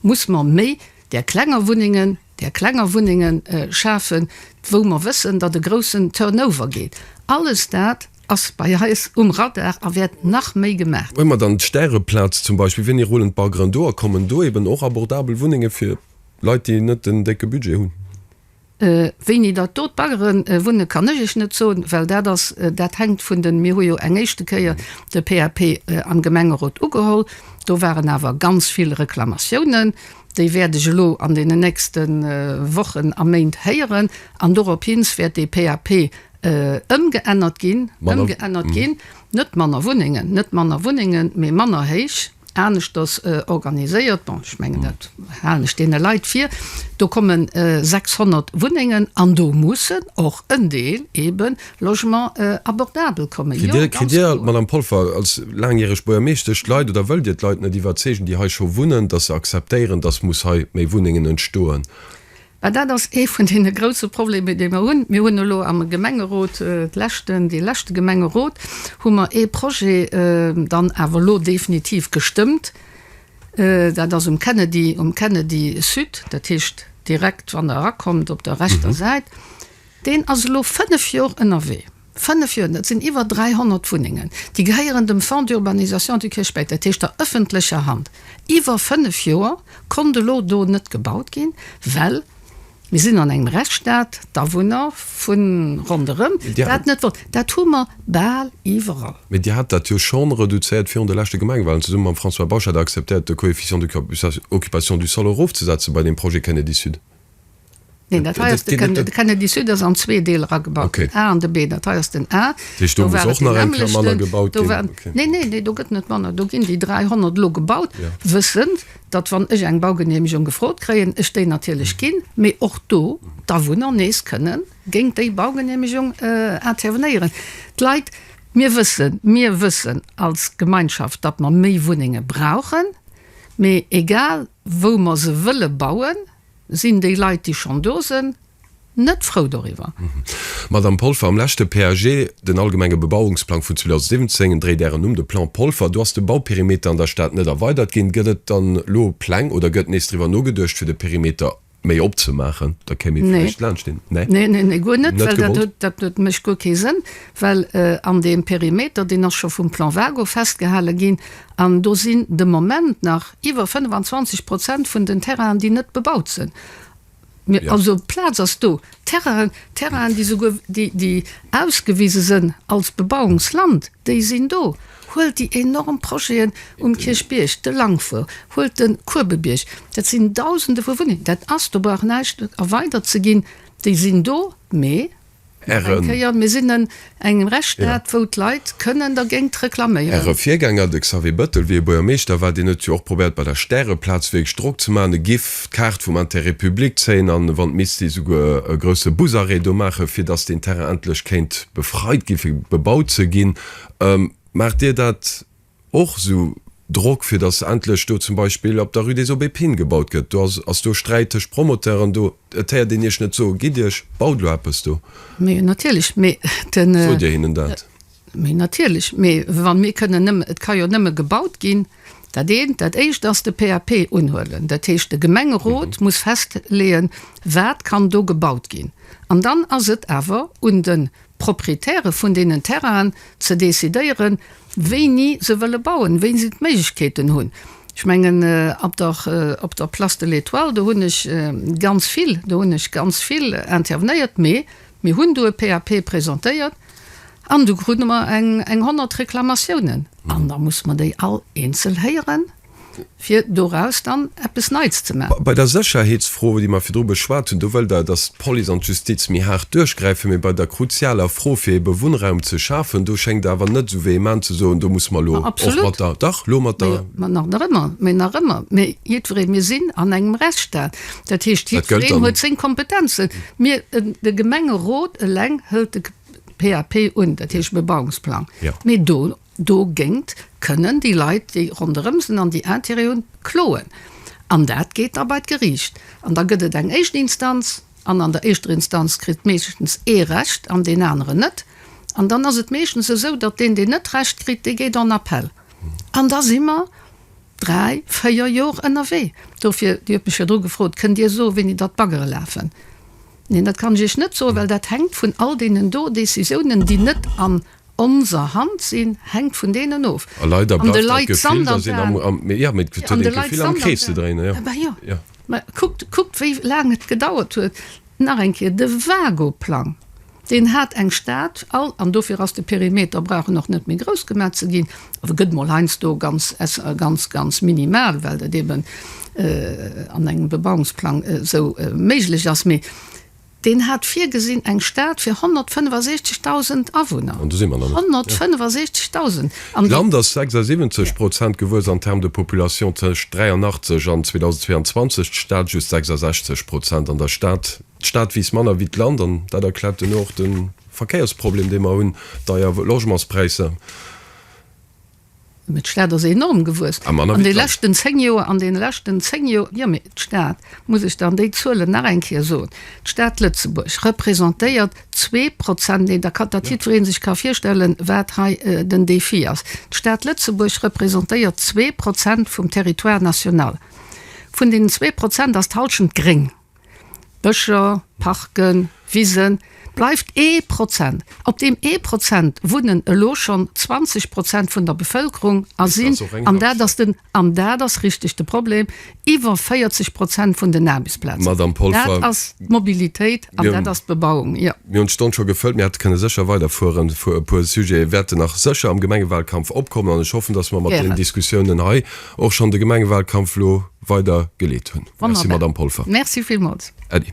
[SPEAKER 4] muss mer méi där klenger Wunnengen, där klenger Wunnenge schafen, wou mer wëssen, datt e groussen Turnover geet. Alles dat ass bei eis um Radar a wäert nach méi gemaach ginn. Huele mer dann d'Stäreplaz
[SPEAKER 3] zum Beispill, Wien ee Roland Bargren do a kommen do eben och abordabel Wunnenge fir Leit, déi net den décke Budget hunn.
[SPEAKER 4] Wéini datt do d'Baggeren wunne kann ech Iech net soen, well dat ass, dat hänkt vun den, mir hu jo eng éischte Kéier de PAP am Gemengerot ugeholl, do waren awer ganz vill Reklamatiounen, Déi wäert ech elo an deenen nächste Wochen a Méint héieren. An doropshins wäert dee PAP ëmgeännert ginn. Ëmgeännert ginn. Net manner Wunnengen, net manner Wunnengen, mee manner héich, aneschters organiséiert. Bon, ech mengen, dat halen ech deene Leit vir. Do kommen 600 Wunnengen an do mussen och en Deel eeben Logement abordabel kommen. Kritt Dir, Madame
[SPEAKER 3] Polfer, als laangjäreg Buergermeeschtesch, d'Leit oder wëllt Dir d'Leit net iwwerzeegen, déi hei scho wunnen, datt se akzeptéieren, datt muss hei méi Wunnengen entstoen? Well dat ass
[SPEAKER 4] ee vun deene grouse Problemer, dee mer hunn. Mir hunn elo am Gemengerot, dee leschte Gemengerot, hu mer ee Projet dann awer elo definitiv gestëmmt. Dat ass um Kennedy, um Kennedy Sud, dat heescht direkt, wann Der erakommt op der rechter Säit. Deen ass elo fënnef Jor ënnerwee. Fënnef Jor! Dat sinn iwwer 300 Wunnengen, déi gehéieren dem Fonds d'urbanisation du Kirchbierg, dat heescht der ëffentlecher Hand. Iwwer fënnef Joer konnt elo do net gebaut ginn, well mir sinn an engem Rechtsstaat, d'Awunner vu ronderëm dat net wollen. Dat hu mer bal
[SPEAKER 3] iwwerall. Mee Dir hat dat jo scho reduzéiert virun de leschte Gemengewahlen. Zesumme mam François Bausch hat Der acceptéiert, de Coefficient d'occupation du sol erofzesetzen bei deem Projet Kennedy Sud. Neen, dat
[SPEAKER 4] hei ass de Kennedy, de Kennedy Sud ass an zwee Deel eragebaut okay. den A an de B. Dat hei ass den A. Do war och nach eng Klamm manner gebaut ginn. Okay. Neen, neen, neen, do gëtt net manner. Do ginn déi 300 elo gebaut, ja. wëssend, datt wann ech eng Baugenehmegung gefrot kréien, ech déi natierlech mhm. ginn, mee och do d'Awunner nees kënnen géint déi Baugenehmegung äh, intervenéieren. D'Leit, mir wëssen, mir wëssen als Gemeinschaft, datt mer méi Wunnenge brauchen, mee egal, wou mer se wëlle bauen, sinn déi Leit, déi schonn do sinn, net frou doriwwer. Madame
[SPEAKER 3] Polfer, am leschte PAG, den allgemenge Bebauungsplang vun 2017, en dréit Ären Numm, de Plan Polfer, do ass de Bauperimeter an der Stad net erweidert ginn. Gëtt et dann elo Pläng oder gëtt nees driwwer nogeduecht, fir de Perimeter méi opzemaachen, da kéim ee vläicht laanscht deen. Nee? Nee, nee, nee, guer net, well dat huet, dat huet,
[SPEAKER 4] mécht guer kee Sënn, well an deem Perimeter, deen ass scho vum Plan Wago festgehale ginn an do sinn de Moment nach iwwer 25 Prozent vun den Terrainen, déi net bebaut sinn. Also d'Plaz ass do. Terrainen, Terrainen, déi souguer, déi, déi ausgewise sënn als Bebauungsland, déi sinn do. Huelt déi enorm Projeten um Kierchbierg, de Langfour, huelt de Kuebebierg, dat sinn Dausende vu Wunnengen, dat ass, do brauch näischt erweidert ze ginn, déi sinn do, mee nach eng Kéier, mir sinn e Engem Rechtsstaat, wou d'Leit kënnen dergéint reklaméieren. Äre Virgänger, de Xavier
[SPEAKER 3] Bëttel, wéi e Buergermeeschter war, deen huet jo och probéiert bei der Stäreplaz wierklech Drock ze maachen, e giff d'Kaart vum Intérêt public zéien an wann et misst si souguer e grousse Busarrêt do maachen, fir datt deen Terrain endlech kéint befreit ginn, fir bebaut ze ginn. Maacht Dir dat Och esou Drock fir datt endlech do zum Beispill op der Rue des Aubépines gebaut gëtt. Do ass do Sträit tëscht Promoteuren do. Et héiert een Iech net soen, Gitt Iech, baut elo eppes do. Mee natierlech,
[SPEAKER 4] mee den. Sot Dir hinnen dat? Mee natierlech, mee wa mir kënnen nëmme, et ka jo nëmme gebaut ginn, dat eent, dat éischt ass de PAP unhuelen. Dat heescht, de Gemengerot muss festleeën, wat kann do gebaut ginn. An dann ass et awer un de Proprietäre vun deenen Terrainen ze decidéieren, wéini se wëlle bauen, wéini se d'Méiglechkeeten hunn. Ech mengen, op der, op der Place de l'Etoile, do hunn ech ganz vill, do hunn ech ganz vill intervenéiert, mee mir hunn do e PAP presentéiert an do krute mer eng, eng honnert Reklamatiounen. An da muss mer déi all eenzel héieren. fir doraus dann eppes Neits ze maachen. Bei der Sécherheetsfro,
[SPEAKER 3] déi mer virdru beschwat hunn, do wëllt Der, dass d'Police an d'Justiz méi haart duerchgräifen, mee bei der kruzialer Fro, fir ebe Wunnraum ze schafen, do schéngt Der awer net esou vehement ze soen, do musse mer elo och mat der, dach, elo
[SPEAKER 4] mat der.
[SPEAKER 3] Mä nach ëmmer, mä nach
[SPEAKER 4] ëmmer, mir, jiddweree, mir sinn an engem Rechtsstaat, dat heescht, jiddwereen huet seng Kompetenzen. Mir, de Gemengerot eleng hëlt de PAP un, dat heescht e Bebauungsplang, mee do. Dogéngt kënnen déi Leit, déi ronderëm sinn an déi Intérêt hunn, kloen. An dat geet da bei d'Geriicht. An da gëtt et eng éischt Instanz. An an der éischter Instanz kritt meeschtens ee Recht an deen aneren net. An dann ass et meeschtens esou, datt deen, deen net Recht kritt, dee geet en Appell. An da si mer dräi, véier Jor ënnerwee. Dofir, Dir hutt mech virdru gefrot, Kënnt Dir soen, wéini datt d'Baggere lafen? Neen, dat kann ech Iech net soen, well dat hänkt vun all deenen do Decisiounen, déi net an. Onser Hand sinn, hänkt vun deenen of. A leider bleift dat Gefill, datt een am, am, mee jo, mee et huet een d'Gefill am Krees ze dréinen, jo. Bah jo, mä kuckt, kuckt wéi laang et gedauert huet, nach eng Kéier, de Vago-Plang, deen hat eng Stad, all, an dofir ass de Perimeter, brauch en och net méi grouss gemaach ze ginn, oder gëtt mol heiansdo ganz, ganz, ganz minimal, well dat eben an engem Bebauungsplang esou méiglech ass, mee. Deen hat virgesinn, eng Stad fir 165.000 Awunner. An do si mer nach net. 165.000! An. D'Land ass 76
[SPEAKER 3] Prozent gewuess an termes de population tëscht 83 an 2022, d'Stad just 66 Prozent. An der Stad, d'Stad wiisst manner wéi d'Land an dat erkläert duerno och de Verkéiersproblem, dee mer hunn, deier Logementspräisser.
[SPEAKER 4] Mee d'Stad ass enorm gewuess an deene leschten zéng Joer, an deene leschten zéng Joer. Jo, mee d'Stad, muss ech dann déi Zuelen nach eng Kéier soen, d'Stad Lëtzebuerg representéiert zwee Prozent, deen da, datt jiddweree sech ka virstellen, wat hei den Défi ass, d'Stad Lëtzebuerg representéiert zwee Prozent vum Territoire national. Vun deenen zwee Prozent ass d'Hallschent gréng. Bëscher, Parken, Wisen, bleift ee Prozent. Op deem ee Prozent wunnen elo schonn 20 Prozent vun der Bevëlkerung a sinn, an dat ass den, an dat ass richteg de Problem, iwwer 40 Prozent vun den Aarbechtsplazen. Dat ass d'Mobilitéit an dat ass d'Bebauung, jo. Mir hunn d'Stonn scho gefëllt. Mir
[SPEAKER 3] hätte kënne sécher weiderfueren. E puer Sujete wäerte nach sécher am Gemengewalkampf opkommen an ech hoffen, dass mer mat deenen Diskussiounen hei, och schonn de Gemengewalkampf elo
[SPEAKER 4] weider
[SPEAKER 3] geleet hunn. Merci, Madamm Polfer.
[SPEAKER 4] Merci
[SPEAKER 3] villmools. Äddi.